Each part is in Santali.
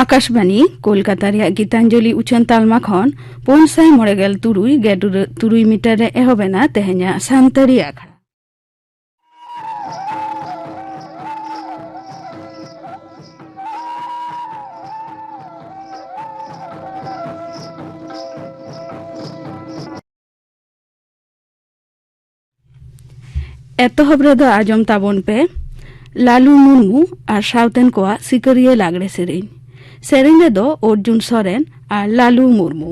ᱟᱠᱟᱥᱵᱟণᱤ ᱠᱳᱞᱠᱟᱛᱟ ᱨᱮᱭᱟᱜ ᱜᱤᱛᱟᱧᱡᱚᱞᱤ ᱩᱪᱷᱟᱹᱱ ᱛᱟᱞᱢᱟ ᱠᱷᱚᱱ ᱯᱩᱱ ᱥᱟᱭ ᱢᱚᱬᱮ ᱜᱮᱞ ᱛᱩᱨᱩᱭ ᱜᱮᱰᱩᱨᱟᱹ ᱛᱩᱨᱩᱭ ᱢᱤᱴᱟᱨ ᱨᱮ ᱮᱦᱚᱵ ᱮᱱᱟ ᱛᱮᱦᱮᱧᱟᱜ ᱥᱟᱱᱛᱟᱲᱤ ᱟᱠᱷᱲᱟ ᱮᱛᱚᱦᱚᱵ ᱨᱮᱫᱚ ᱟᱸᱡᱚᱢ ᱛᱟᱵᱚᱱ ᱯᱮ ᱞᱟᱞᱩ ᱢᱩᱨᱢᱩ ᱟᱨ ᱥᱟᱶᱛᱮᱱ ᱠᱚᱣᱟᱜ ᱥᱤᱠᱟᱹᱨᱤᱭᱟᱹ ᱞᱟᱜᱽᱲᱮ ᱥᱮᱨᱮᱧ ᱥᱮᱨᱮᱧ ᱨᱮᱫᱚ ᱚᱨᱡᱩᱱ ᱥᱚᱨᱮᱱ ᱟᱨ ᱞᱟᱞᱩ ᱢᱩᱨᱢᱩ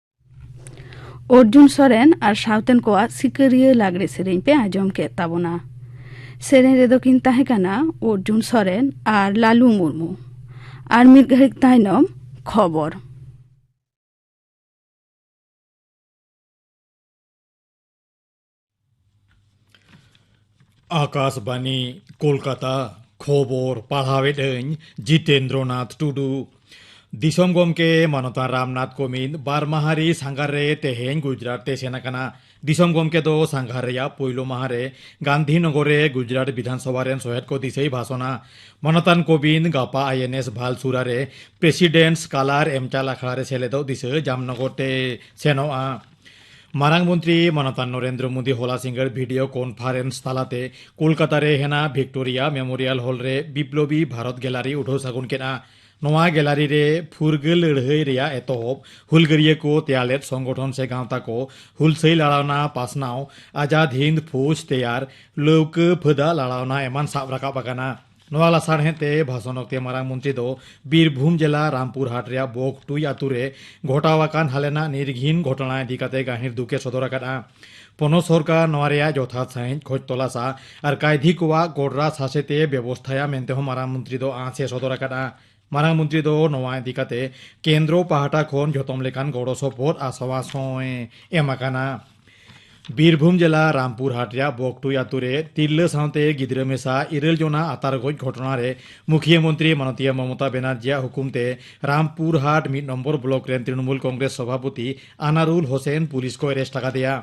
ᱚᱨᱡᱩᱱ ᱥᱚᱨᱮᱱ ᱟᱨ ᱥᱟᱶᱛᱮᱱ ᱠᱚᱣᱟᱜ ᱥᱤᱠᱟᱹᱨᱤᱭᱟᱹ ᱞᱟᱜᱽᱲᱮ ᱥᱮᱨᱮᱧ ᱯᱮ ᱟᱸᱡᱚᱢ ᱠᱮᱫ ᱛᱟᱵᱚᱱᱟ ᱥᱮᱨᱮᱧ ᱨᱮᱫᱚ ᱠᱤᱱ ᱛᱟᱦᱮᱸ ᱠᱟᱱᱟ ᱚᱨᱡᱩᱱ ᱥᱚᱨᱮᱱ ᱟᱨ ᱞᱟᱞᱩ ᱢᱩᱨᱢᱩ ᱟᱨ ᱢᱤᱫ ᱜᱷᱟᱹᱲᱤᱡ ᱛᱟᱭᱱᱚᱢ ᱠᱷᱚᱵᱚᱨ ᱟᱠᱟᱥᱵᱟᱱᱤ ᱠᱳᱞᱠᱟᱛᱟ ᱠᱷᱚᱵᱚᱨ ᱯᱟᱲᱦᱟᱣᱮᱫ ᱟᱹᱧ ᱡᱤᱛᱮᱱᱫᱨᱚᱱᱟᱛᱷ ᱴᱩᱰᱩ ᱫᱤᱥᱚᱢ ᱜᱚᱢᱠᱮ ᱢᱟᱱᱚᱛᱟ ᱨᱟᱢᱱᱟᱛᱷ ᱠᱚᱢᱤᱱ ᱵᱟᱨ ᱢᱟᱦᱟ ᱨᱮ ᱥᱟᱸᱜᱷᱟᱨ ᱨᱮ ᱛᱮᱦᱮᱧ ᱜᱩᱡᱽᱨᱟᱴ ᱛᱮ ᱥᱮᱱ ᱟᱠᱟᱱᱟ ᱫᱤᱥᱚᱢ ᱜᱚᱢᱠᱮ ᱫᱚ ᱥᱟᱸᱜᱷᱟᱨ ᱨᱮᱭᱟᱜ ᱯᱳᱭᱞᱳ ᱢᱟᱦᱟ ᱨᱮ ᱜᱟᱱᱫᱷᱤᱱᱚᱜᱚᱨ ᱨᱮ ᱜᱩᱡᱽᱨᱟᱴ ᱵᱤᱫᱷᱟᱱ ᱥᱚᱵᱷᱟ ᱨᱮᱱ ᱥᱚᱦᱮᱫ ᱠᱚ ᱫᱤᱥᱟᱹᱭ ᱵᱷᱟᱥᱚᱱᱟ ᱢᱟᱱᱚᱛᱟᱱ ᱠᱚᱵᱤᱱ ᱜᱟᱯᱟ ᱟᱭ ᱮᱱ ᱮᱥ ᱵᱷᱟᱞ ᱥᱩᱨᱟ ᱨᱮ ᱯᱨᱮᱥᱤᱰᱮᱱᱴ ᱥᱠᱟᱞᱟᱨ ᱮᱢᱪᱟᱞ ᱟᱠᱷᱲᱟ ᱨᱮ ᱥᱮᱞᱮᱫᱚᱜ ᱫᱤᱥᱟᱹ ᱡᱟᱢᱱᱚᱜᱚᱨ ᱛᱮ ᱥᱮᱱᱚᱜᱼᱟ ᱢᱟᱨᱟᱝ ᱢᱚᱱᱛᱨᱤ ᱢᱟᱱᱚᱛᱟᱱ ᱱᱚᱨᱮᱱᱫᱨᱚ ᱢᱳᱫᱤ ᱦᱚᱞᱟ ᱥᱤᱸᱜᱟᱹᱲ ᱵᱷᱤᱰᱤᱭᱳ ᱠᱚᱱᱯᱷᱟᱨᱮᱱᱥ ᱛᱟᱞᱟᱛᱮ ᱠᱳᱞᱠᱟᱛᱟ ᱨᱮ ᱦᱮᱱᱟ ᱵᱷᱤᱠᱴᱳᱨᱤᱭᱟ ᱢᱮᱢᱳᱨᱤᱭᱟᱞ ᱦᱚᱞ ᱨᱮ ᱵᱤᱯᱞᱚᱵᱤ ᱵᱷᱟᱨᱚᱛ ᱜᱮᱞᱟᱨᱤ ᱩᱰᱷᱟᱹᱣ ᱥᱟᱹᱜᱩᱱ ᱠᱮᱫᱼᱟ ᱱᱚᱣᱟ ᱜᱮᱞᱟᱨᱤ ᱨᱮ ᱯᱷᱩᱨᱜᱟᱹᱞ ᱞᱟᱹᱲᱦᱟᱹᱭ ᱨᱮᱭᱟᱜ ᱮᱛᱚᱦᱚᱵ ᱦᱩᱞᱜᱟᱹᱨᱤᱭᱟᱹ ᱠᱚ ᱛᱮᱭᱟᱨ ᱞᱮᱫ ᱥᱚᱝᱜᱚᱴᱷᱚᱱ ᱥᱮ ᱜᱟᱶᱛᱟ ᱠᱚ ᱦᱩᱞᱥᱟᱹᱭ ᱞᱟᱲᱟᱣᱱᱟ ᱯᱟᱥᱱᱟᱣ ᱟᱡᱟᱫ ᱦᱤᱱᱫ ᱯᱷᱳᱡᱽ ᱛᱮᱭᱟᱨ ᱞᱟᱹᱣᱠᱟᱹ ᱯᱷᱟᱹᱫᱟ ᱞᱟᱲᱟᱣᱱᱟ ᱮᱢᱟᱱ ᱥᱟᱵ ᱨᱟᱠᱟᱵ ᱟᱠᱟᱱᱟ ᱱᱚᱣᱟ ᱞᱟᱥᱟᱲᱦᱮᱸᱫ ᱛᱮ ᱵᱷᱟᱥᱚᱱ ᱚᱠᱛᱮ ᱢᱟᱨᱟᱝ ᱢᱚᱱᱛᱨᱤ ᱫᱚ ᱵᱤᱨᱵᱷᱩᱢ ᱡᱮᱞᱟ ᱨᱟᱢᱯᱩᱨ ᱦᱟᱴ ᱨᱮᱭᱟᱜ ᱵᱚᱠ ᱴᱩᱭ ᱟᱛᱩ ᱨᱮ ᱜᱷᱚᱴᱟᱣ ᱟᱠᱟᱱ ᱦᱟᱞᱮᱱᱟᱜ ᱱᱤᱨᱜᱷᱤᱱ ᱜᱷᱚᱴᱚᱱᱟ ᱤᱫᱤ ᱠᱟᱛᱮ ᱜᱟᱹᱦᱤᱨ ᱫᱩᱠᱮ ᱥᱚᱫᱚᱨ ᱟᱠᱟᱫᱼᱟ ᱯᱚᱱᱚᱛ ᱥᱚᱨᱠᱟᱨ ᱱᱚᱣᱟ ᱨᱮᱭᱟᱜ ᱡᱚᱛᱷᱟᱛ ᱥᱟᱺᱦᱤᱡ ᱠᱷᱚᱡᱽ ᱛᱚᱞᱟᱥᱟ ᱟᱨ ᱠᱟᱭᱫᱷᱤ ᱠᱚᱣᱟᱜ ᱜᱚᱰᱨᱟ ᱥᱟᱥᱮᱛᱮ ᱵᱮᱵᱚᱥᱛᱷᱟᱭᱟ ᱢᱮᱱᱛᱮ ᱦᱚᱸ ᱢᱟᱨᱟᱝ ᱢᱚᱱᱛᱨᱤ ᱫᱚ ᱟᱸᱥ ᱮ ᱥᱚᱫᱚᱨ ᱟᱠᱟᱫᱼᱟ ᱢᱟᱨᱟᱝ ᱢᱚᱱᱛᱨᱤ ᱫᱚ ᱱᱚᱣᱟ ᱤᱫᱤ ᱠᱟᱛᱮ ᱠᱮᱱᱫᱨᱚ ᱯᱟᱦᱴᱟ ᱠᱷᱚᱱ ᱡᱚᱛᱚᱢ ᱞᱮᱠᱟᱱ ᱜᱚᱲᱚ ᱥᱚᱯᱚᱦᱚᱫ ᱟᱥᱣᱟᱥ ᱦᱚᱸᱭ ᱮᱢ ᱟᱠᱟᱱᱟ ᱵᱤᱨᱵᱷᱩᱢ ᱡᱮᱞᱟ ᱨᱟᱢᱯᱩᱨ ᱦᱟᱴ ᱨᱮᱭᱟᱜ ᱵᱚᱠᱴᱩᱭ ᱟᱛᱳ ᱨᱮ ᱛᱤᱨᱞᱟᱹ ᱥᱟᱶᱛᱮ ᱜᱤᱫᱽᱨᱟᱹ ᱢᱮᱥᱟ ᱤᱨᱟᱹᱞ ᱡᱚᱱᱟ ᱟᱛᱟᱨ ᱜᱚᱡ ᱜᱷᱚᱴᱚᱱᱟ ᱨᱮ ᱢᱩᱠᱷᱤᱭᱟᱹ ᱢᱚᱱᱛᱨᱤ ᱢᱟᱱᱚᱛᱤᱭᱟᱹ ᱢᱚᱢᱚᱛᱟ ᱵᱮᱱᱟᱨᱡᱤᱭᱟᱜ ᱦᱩᱠᱩᱢ ᱛᱮ ᱨᱟᱢᱯᱩᱨ ᱦᱟᱴ ᱢᱤᱫ ᱱᱚᱢᱵᱚᱨ ᱵᱞᱚᱠ ᱨᱮᱱ ᱛᱨᱤᱱᱢᱩᱞ ᱠᱚᱝᱜᱨᱮᱥ ᱥᱚᱵᱷᱟᱯᱚᱛᱤ ᱟᱱᱟᱨᱩᱞ ᱦᱳᱥᱮᱱ ᱯᱩᱞᱤᱥ ᱠᱚ ᱮᱨᱮᱥᱴ ᱟᱠᱟᱫᱮᱭᱟ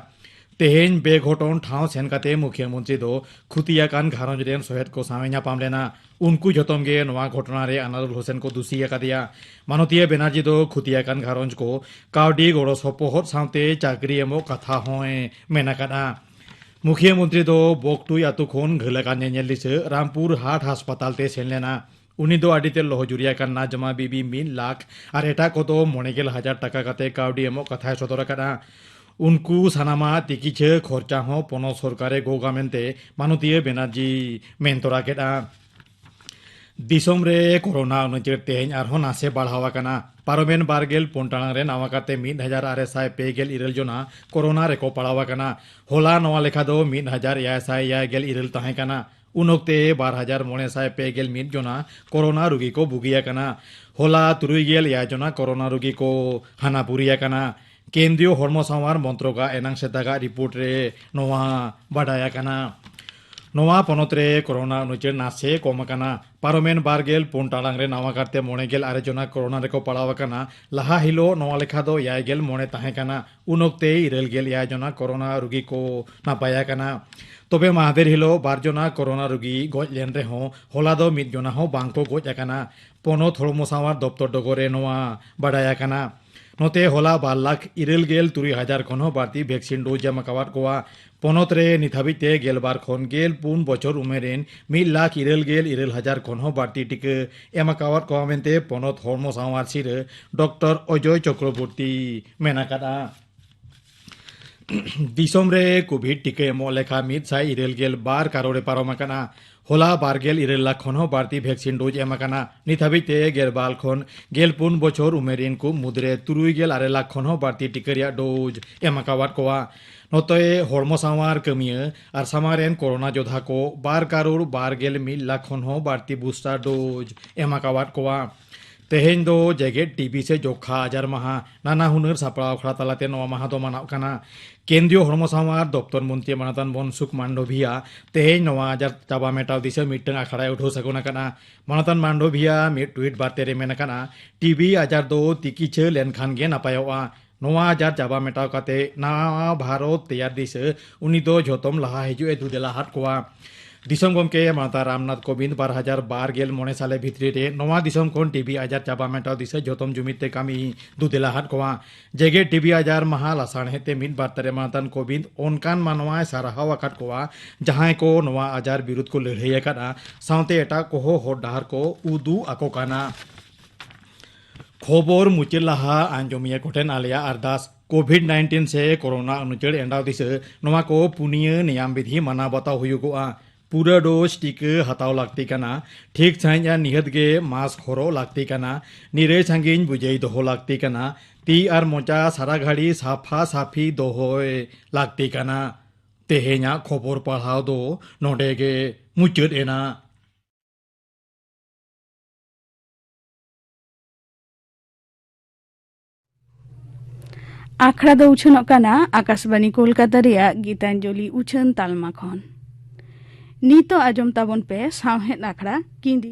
ᱛᱮᱦᱮᱧ ᱵᱮᱜᱷᱚᱴᱚᱱ ᱴᱷᱟᱶ ᱥᱮᱱ ᱠᱟᱛᱮ ᱢᱩᱠᱷᱤᱭᱟᱹ ᱢᱚᱱᱛᱨᱤ ᱫᱚ ᱠᱷᱩᱛᱤ ᱟᱠᱟᱱ ᱜᱷᱟᱨᱚᱸᱡᱽ ᱨᱮᱱ ᱥᱚᱦᱮᱫ ᱠᱚ ᱥᱟᱶ ᱧᱟᱯᱟᱢ ᱞᱮᱱᱟ ᱩᱱᱠᱩ ᱡᱚᱛᱚᱢ ᱜᱮ ᱱᱚᱣᱟ ᱜᱷᱚᱴᱚᱱᱟ ᱨᱮ ᱟᱱᱟᱨᱩᱞ ᱦᱩᱥᱮᱱ ᱠᱚ ᱫᱩᱥᱤ ᱟᱠᱟᱫᱮᱭᱟ ᱢᱟᱱᱚᱛᱤᱭᱟᱹ ᱵᱮᱱᱟᱨᱡᱤ ᱫᱚ ᱠᱷᱩᱛᱤ ᱟᱠᱟᱱ ᱜᱷᱟᱨᱚᱸᱡᱽ ᱠᱚ ᱠᱟᱹᱣᱰᱤ ᱜᱚᱲᱚ ᱥᱚᱯᱚᱦᱚᱫ ᱥᱟᱶᱛᱮ ᱪᱟᱹᱠᱨᱤ ᱮᱢᱚᱜ ᱠᱟᱛᱷᱟ ᱦᱚᱸᱭ ᱢᱮᱱ ᱟᱠᱟᱫᱼᱟ ᱢᱩᱠᱷᱤᱭᱟᱹ ᱢᱚᱱᱛᱨᱤ ᱫᱚ ᱵᱚᱠᱴᱩᱭ ᱟᱛᱳ ᱠᱷᱚᱱ ᱜᱷᱟᱹᱞ ᱟᱠᱟᱱ ᱧᱮᱧᱮᱞ ᱫᱤᱥᱟᱹ ᱨᱟᱢᱯᱩᱨ ᱦᱟᱴ ᱦᱟᱥᱯᱟᱛᱟᱞ ᱛᱮ ᱥᱮᱱ ᱞᱮᱱᱟ ᱩᱱᱤ ᱫᱚ ᱟᱹᱰᱤ ᱛᱮ ᱞᱚᱦᱚ ᱡᱩᱨᱤ ᱟᱠᱟᱱ ᱱᱟᱡᱢᱟ ᱵᱤᱵᱤ ᱢᱤᱫ ᱞᱟᱠᱷ ᱟᱨ ᱮᱴᱟᱜ ᱠᱚᱫᱚ ᱢᱚᱬᱮ ᱜᱮᱞ ᱦᱟᱡᱟᱨ ᱴᱟᱠᱟ ᱠᱟᱛᱮ ᱠᱟᱹᱣᱰᱤ ᱮᱢᱚᱜ ᱠᱟᱛᱷᱟᱭ ᱥᱚᱫᱚᱨ ᱟᱠᱟᱫᱼᱟ ᱩᱱᱠᱩ ᱥᱟᱱᱟᱢᱟᱜ ᱛᱤᱠᱤᱪᱷᱟᱹ ᱠᱷᱚᱨᱪᱟ ᱦᱚᱸ ᱯᱚᱱᱚᱛ ᱥᱚᱨᱠᱟᱨᱮ ᱜᱚᱜᱟ ᱢᱮᱱᱛᱮ ᱢᱟᱱᱚᱛᱤᱭᱟᱹ ᱵᱮᱱᱟᱨᱡᱤ ᱢᱮᱱ ᱛᱚᱨᱟ ᱠᱮᱫᱼᱟ ᱫᱤᱥᱚᱢ ᱨᱮ ᱠᱚᱨᱳᱱᱟ ᱩᱱᱩᱪᱟᱹᱲ ᱛᱮᱦᱮᱧ ᱟᱨᱦᱚᱸ ᱱᱟᱥᱮ ᱵᱟᱲᱦᱟᱣ ᱟᱠᱟᱱᱟ ᱯᱟᱨᱚᱢᱮᱱ ᱵᱟᱨᱜᱮᱞ ᱯᱩᱱ ᱴᱟᱲᱟᱝ ᱨᱮ ᱱᱟᱣᱟ ᱠᱟᱛᱮ ᱢᱤᱫ ᱦᱟᱡᱟᱨ ᱟᱨᱮ ᱥᱟᱭ ᱯᱮ ᱜᱮᱞ ᱤᱨᱟᱹᱞ ᱡᱚᱱᱟ ᱠᱚᱨᱳᱱᱟ ᱨᱮᱠᱚ ᱯᱟᱲᱟᱣ ᱟᱠᱟᱱᱟ ᱦᱚᱞᱟ ᱱᱚᱣᱟ ᱞᱮᱠᱷᱟ ᱫᱚ ᱢᱤᱫ ᱦᱟᱡᱟᱨ ᱮᱭᱟᱭ ᱥᱟᱭ ᱮᱭᱟᱭ ᱜᱮᱞ ᱤᱨᱟᱹᱞ ᱛᱟᱦᱮᱸ ᱠᱟᱱᱟ ᱩᱱ ᱚᱠᱛᱮ ᱵᱟᱨ ᱦᱟᱡᱟᱨ ᱢᱚᱬᱮ ᱥᱟᱭ ᱯᱮ ᱜᱮᱞ ᱢᱤᱫ ᱡᱚᱱᱟ ᱠᱚᱨᱳᱱᱟ ᱨᱩᱜᱤ ᱠᱚ ᱵᱩᱜᱤ ᱟᱠᱟᱱᱟ ᱦᱚᱞᱟ ᱛᱩᱨᱩᱭ ᱜᱮᱞ ᱮᱭᱟᱭ ᱡᱚᱱᱟ ᱠᱚᱨᱳᱱᱟ ᱨᱩᱜᱤ ᱠᱚ ᱦᱟᱱᱟᱯᱩᱨᱤ ᱟᱠᱟᱱᱟ ᱠᱮᱱᱫᱨᱤᱭᱚ ᱦᱚᱲᱢᱚ ᱥᱟᱶᱟᱨ ᱢᱚᱱᱛᱨᱚᱠᱟᱜ ᱮᱱᱟᱝ ᱥᱮᱛᱟᱜᱟᱜ ᱨᱤᱯᱳᱨᱴ ᱨᱮ ᱱᱚᱣᱟ ᱵᱟᱰᱟᱭ ᱟᱠᱟᱱᱟ ᱱᱚᱣᱟ ᱯᱚᱱᱚᱛ ᱨᱮ ᱠᱚᱨᱳᱱᱟ ᱩᱱᱩᱪᱟᱹᱲ ᱱᱟᱥᱮ ᱠᱚᱢ ᱟᱠᱟᱱᱟ ᱯᱟᱨᱚᱢᱮᱱ ᱵᱟᱨ ᱜᱮᱞ ᱯᱩᱱ ᱴᱟᱲᱟᱝ ᱨᱮ ᱱᱟᱣᱟ ᱠᱟᱨᱛᱮ ᱢᱚᱬᱮ ᱜᱮᱞ ᱟᱨᱮ ᱡᱚᱱᱟ ᱠᱚᱨᱳᱱᱟ ᱨᱮᱠᱚ ᱯᱟᱲᱟᱣ ᱟᱠᱟᱱᱟ ᱞᱟᱦᱟ ᱦᱤᱞᱳᱜ ᱱᱚᱣᱟ ᱞᱮᱠᱷᱟ ᱫᱚ ᱮᱭᱟᱭ ᱜᱮᱞ ᱢᱚᱬᱮ ᱛᱟᱦᱮᱸ ᱠᱟᱱᱟ ᱩᱱ ᱚᱠᱛᱮ ᱤᱨᱟᱹᱞ ᱜᱮᱞ ᱮᱭᱟᱭ ᱡᱚᱱᱟ ᱠᱚᱨᱳᱱᱟ ᱨᱩᱜᱤ ᱠᱚ ᱱᱟᱯᱟᱭ ᱟᱠᱟᱱᱟ ᱛᱚᱵᱮ ᱢᱟᱦᱫᱮᱨ ᱦᱤᱞᱳᱜ ᱵᱟᱨ ᱡᱚᱱᱟ ᱠᱚᱨᱳᱱᱟ ᱨᱩᱜᱤ ᱜᱚᱡ ᱞᱮᱱ ᱨᱮᱦᱚᱸ ᱦᱚᱞᱟ ᱫᱚ ᱢᱤᱫ ᱡᱚᱱᱟ ᱦᱚᱸ ᱵᱟᱝ ᱠᱚ ᱜᱚᱡ ᱟᱠᱟᱱᱟ ᱯᱚᱱᱚᱛ ᱦᱚᱲᱢᱚ ᱥᱟᱶᱟᱨ ᱫᱚᱯᱛᱚᱨ ᱰᱚᱜᱚᱨ ᱨᱮ ᱱᱚᱣᱟ ᱵᱟᱰᱟᱭ ᱟᱠᱟᱱᱟ ᱱᱚᱛᱮ ᱦᱚᱞᱟ ᱵᱟᱨ ᱞᱟᱠᱷ ᱤᱨᱟᱹᱞ ᱜᱮᱞ ᱛᱩᱨᱩᱭ ᱦᱟᱡᱟᱨ ᱠᱷᱚᱱ ᱦᱚᱸ ᱵᱟᱹᱲᱛᱤ ᱵᱷᱮᱠᱥᱤᱱ ᱰᱳᱡᱽ ᱮᱢ ᱟᱠᱟᱣᱟᱫ ᱠᱚᱣᱟ ᱯᱚᱱᱚᱛ ᱨᱮ ᱱᱤᱛ ᱦᱟᱹᱵᱤᱡ ᱛᱮ ᱜᱮᱞᱵᱟᱨ ᱠᱷᱚᱱ ᱜᱮᱞ ᱯᱩᱱ ᱵᱚᱪᱷᱚᱨ ᱩᱢᱮᱨ ᱨᱮᱱ ᱢᱤᱫ ᱞᱟᱠᱷ ᱤᱨᱟᱹᱞ ᱜᱮᱞ ᱤᱨᱟᱹᱞ ᱦᱟᱡᱟᱨ ᱠᱷᱚᱱ ᱦᱚᱸ ᱵᱟᱹᱲᱛᱤ ᱴᱤᱠᱟᱹ ᱮᱢ ᱟᱠᱟᱣᱟᱫ ᱠᱚᱣᱟ ᱢᱮᱱᱛᱮ ᱯᱚᱱᱚᱛ ᱦᱚᱲᱢᱚ ᱥᱟᱶᱟᱨ ᱥᱤᱨᱟᱹ ᱰᱚᱠᱴᱚᱨ ᱚᱡᱚᱭ ᱪᱚᱠᱨᱚᱵᱚᱨᱛᱤ ᱢᱮᱱ ᱟᱠᱟᱫᱼᱟ ᱫᱤᱥᱚᱢ ᱨᱮ ᱠᱳᱵᱷᱤᱰ ᱴᱤᱠᱟᱹ ᱮᱢᱚᱜ ᱞᱮᱠᱷᱟ ᱢᱤᱫ ᱥᱟᱭ ᱤᱨᱟᱹᱞ ᱜᱮᱞ ᱵᱟᱨ ᱠᱟᱨᱚᱲᱮ ᱯᱟᱨᱚᱢ ᱟᱠᱟᱱᱟ ᱦᱚᱞᱟ ᱵᱟᱨᱜᱮᱞ ᱤᱨᱟᱹᱞ ᱞᱟᱠᱷ ᱠᱷᱚᱱ ᱦᱚᱸ ᱵᱟᱹᱲᱛᱤ ᱵᱷᱮᱠᱥᱤᱱ ᱰᱳᱡᱽ ᱮᱢ ᱟᱠᱟᱱᱟ ᱱᱤᱛ ᱦᱟᱹᱵᱤᱡ ᱛᱮ ᱜᱮᱞᱵᱟᱨ ᱠᱷᱚᱱ ᱜᱮᱞᱯᱩᱱ ᱵᱚᱪᱷᱚᱨ ᱩᱢᱮᱨ ᱨᱤᱱ ᱠᱚ ᱢᱩᱫᱽᱨᱮ ᱛᱩᱨᱩᱭ ᱜᱮᱞ ᱟᱨᱮ ᱞᱟᱠᱷ ᱠᱷᱚᱱ ᱦᱚᱸ ᱵᱟᱹᱲᱛᱤ ᱴᱤᱠᱟᱹ ᱨᱮᱭᱟᱜ ᱰᱳᱡᱽ ᱮᱢ ᱟᱠᱟᱣᱟᱫ ᱠᱚᱣᱟ ᱱᱚᱛᱮ ᱦᱚᱲᱢᱚ ᱥᱟᱶᱟᱨ ᱠᱟᱹᱢᱤᱭᱟᱹ ᱟᱨ ᱥᱟᱢᱟᱝ ᱨᱮᱱ ᱠᱳᱨᱳᱱᱟ ᱡᱳᱫᱷᱟ ᱠᱚ ᱵᱟᱨ ᱠᱟᱨᱳᱲ ᱵᱟᱨᱜᱮᱞ ᱢᱤᱫ ᱞᱟᱠᱷ ᱠᱷᱚᱱ ᱦᱚᱸ ᱵᱟᱹᱲᱛᱤ ᱵᱩᱥᱴᱟᱨ ᱰᱳᱡᱽ ᱮᱢ ᱟᱠᱟᱣᱟᱫ ᱠᱚᱣᱟ ᱛᱮᱦᱮᱧ ᱫᱚ ᱡᱮᱜᱮᱛ ᱴᱤᱵᱤ ᱥᱮ ᱡᱚᱠᱷᱟ ᱟᱡᱟᱨ ᱢᱟᱦᱟ ᱱᱟᱱᱟ ᱦᱩᱱᱟᱹᱨ ᱥᱟᱯᱲᱟᱣ ᱟᱠᱷᱲᱟ ᱛᱟᱞᱟᱛᱮ ᱱᱚᱣᱟ ᱢᱟᱦᱟ ᱫᱚ ᱢᱟᱱᱟᱣ ᱠᱟᱱᱟ ᱠᱮᱱᱫᱨᱤᱭᱚ ᱦᱚᱲᱢᱚ ᱥᱟᱶᱟᱨ ᱫᱚᱯᱛᱚᱨ ᱢᱚᱱᱛᱨᱤ ᱢᱟᱱᱚᱛᱟᱱ ᱵᱚᱱᱥᱩᱠ ᱢᱟᱱᱰᱚᱵᱷᱤᱭᱟ ᱛᱮᱦᱮᱧ ᱱᱚᱣᱟ ᱟᱡᱟᱨ ᱪᱟᱵᱟ ᱢᱮᱴᱟᱣ ᱫᱤᱥᱟᱹ ᱢᱤᱫᱴᱟᱝ ᱟᱠᱷᱲᱟᱭ ᱩᱰᱷᱟᱹᱣ ᱥᱟᱹᱜᱩᱱ ᱟᱠᱟᱱᱟ ᱢᱟᱱᱚᱛᱟᱱ ᱢᱟᱱᱰᱚᱵᱷᱤᱭᱟ ᱢᱤᱫ ᱴᱩᱭᱤᱴ ᱵᱟᱨᱛᱮ ᱨᱮ ᱢᱮᱱ ᱟᱠᱟᱱᱟ ᱴᱤᱵᱤ ᱟᱡᱟᱨ ᱫᱚ ᱛᱤᱠᱤᱪᱷᱟᱹ ᱞᱮᱱᱠᱷᱟᱱ ᱜᱮ ᱱᱟᱯᱟᱭᱚᱜᱼᱟ ᱱᱚᱣᱟ ᱟᱡᱟᱨ ᱪᱟᱵᱟ ᱢᱮᱴᱟᱣ ᱠᱟᱛᱮ ᱱᱟᱣᱟ ᱵᱷᱟᱨᱚᱛ ᱛᱮᱭᱟᱨ ᱫᱤᱥᱟᱹ ᱩᱱᱤ ᱫᱚ ᱡᱷᱚᱛᱚᱢ ᱞᱟᱦᱟ ᱦᱤᱡᱩᱜ ᱮ ᱫᱩᱫᱮᱞᱟ ᱦᱟᱫ ᱠᱚᱣᱟ ᱫᱤᱥᱚᱢ ᱜᱚᱢᱠᱮ ᱢᱟᱛᱟ ᱨᱟᱢᱱᱟᱛᱷ ᱠᱳᱵᱤᱱᱫ ᱵᱟᱨ ᱦᱟᱡᱟᱨ ᱵᱟᱨ ᱜᱮᱞ ᱢᱚᱬᱮ ᱥᱟᱞᱮ ᱵᱷᱤᱛᱨᱤ ᱨᱮ ᱱᱚᱣᱟ ᱫᱤᱥᱚᱢ ᱠᱷᱚᱱ ᱴᱤᱵᱤ ᱟᱡᱟᱨ ᱪᱟᱵᱟ ᱢᱮᱴᱟᱣ ᱫᱤᱥᱟᱹ ᱡᱷᱚᱛᱚᱢ ᱡᱩᱢᱤᱫ ᱛᱮ ᱠᱟᱹᱢᱤ ᱫᱩᱫᱮᱞᱟ ᱦᱟᱫ ᱠᱚᱣᱟ ᱡᱮᱜᱮᱛ ᱴᱤᱵᱤ ᱟᱡᱟᱨ ᱢᱟᱦᱟ ᱞᱟᱥᱟᱬᱦᱮᱫ ᱛᱮ ᱢᱤᱫ ᱵᱟᱨᱛᱟ ᱨᱮ ᱢᱟᱛᱟᱱ ᱠᱳᱵᱤᱱᱫ ᱚᱱᱠᱟᱱ ᱢᱟᱱᱣᱟᱭ ᱥᱟᱨᱦᱟᱣ ᱟᱠᱟᱫ ᱠᱚᱣᱟ ᱡᱟᱦᱟᱸᱭ ᱠᱚ ᱱᱚᱣᱟ ᱟᱡᱟᱨ ᱵᱤᱨᱩᱫᱷ ᱠᱚ ᱞᱟᱹᱲᱦᱟᱹᱭ ᱟᱠᱟᱫᱼᱟ ᱥᱟᱶᱛᱮ ᱮᱴᱟᱜ ᱠᱚᱦᱚᱸ ᱦᱚᱨ ᱰᱟᱦᱟᱨ ᱠᱚ ᱩᱫᱩᱜ ᱟᱠᱚ ᱠᱟᱱᱟ ᱠᱷᱚᱵᱚᱨ ᱢᱩᱪᱟᱹᱫ ᱞᱟᱦᱟ ᱟᱸᱡᱚᱢᱤᱭᱟᱹ ᱠᱚᱴᱷᱮᱱ ᱟᱞᱮᱭᱟᱜ ᱟᱨᱫᱟᱥ ᱠᱳᱵᱷᱤᱰ ᱱᱟᱭᱤᱱᱴᱤᱱ ᱥᱮ ᱠᱚᱨᱳᱱᱟ ᱩᱱᱩᱪᱟᱹᱲ ᱮᱸᱰᱟᱣ ᱫᱤᱥᱟᱹ ᱱᱚᱣᱟ ᱠᱚ ᱯᱩᱱᱭᱟᱹ ᱱᱮᱭᱟᱢ ᱵᱤᱫᱷᱤ ᱢᱟᱱᱟᱣ ᱵᱟᱛᱟᱣ ᱦᱩᱭᱩᱜᱚᱜᱼᱟ ᱯᱩᱨᱟᱹ ᱰᱳᱡᱽ ᱴᱤᱠᱟᱹ ᱦᱟᱛᱟᱣ ᱞᱟᱹᱠᱛᱤ ᱠᱟᱱᱟ ᱴᱷᱤᱠ ᱥᱟᱺᱦᱤᱡ ᱟᱨ ᱱᱤᱦᱟᱹᱛ ᱜᱮ ᱢᱟᱥᱠ ᱦᱚᱨᱚᱜ ᱞᱟᱹᱠᱛᱤ ᱠᱟᱱᱟ ᱱᱤᱨᱟᱹᱭ ᱥᱟᱺᱜᱤᱧ ᱵᱩᱡᱟᱹᱭ ᱫᱚᱦᱚ ᱞᱟᱹᱠᱛᱤ ᱠᱟᱱᱟ ᱛᱤ ᱟᱨ ᱢᱚᱪᱟ ᱥᱟᱨᱟ ᱜᱷᱟᱹᱲᱤ ᱥᱟᱯᱷᱟ ᱥᱟᱯᱷᱤ ᱫᱚᱦᱚᱭ ᱞᱟᱹᱠᱛᱤ ᱠᱟᱱᱟ ᱛᱮᱦᱮᱧᱟᱜ ᱠᱷᱚᱵᱚᱨ ᱯᱟᱲᱦᱟᱣ ᱫᱚ ᱱᱚᱰᱮ ᱜᱮ ᱢᱩᱪᱟᱹᱫ ᱮᱱᱟ ᱟᱠᱷᱲᱟ ᱫᱚ ᱩᱪᱷᱟᱹᱱᱚᱜ ᱠᱟᱱᱟ ᱟᱠᱟᱥᱵᱟণᱤ ᱠᱳᱞᱠᱟᱛᱟ ᱨᱮᱭᱟᱜ ᱜᱤᱛᱟᱧᱡᱚᱞᱤ ᱩᱪᱷᱟᱹᱱ ᱛᱟᱞᱢᱟ ᱠᱷᱚᱱ ᱱᱤᱛᱚᱜ ᱟᱸᱡᱚᱢ ᱛᱟᱵᱚᱱ ᱯᱮ ᱥᱟᱶᱦᱮᱫ ᱟᱠᱷᱲᱟ ᱠᱤᱸᱫᱤ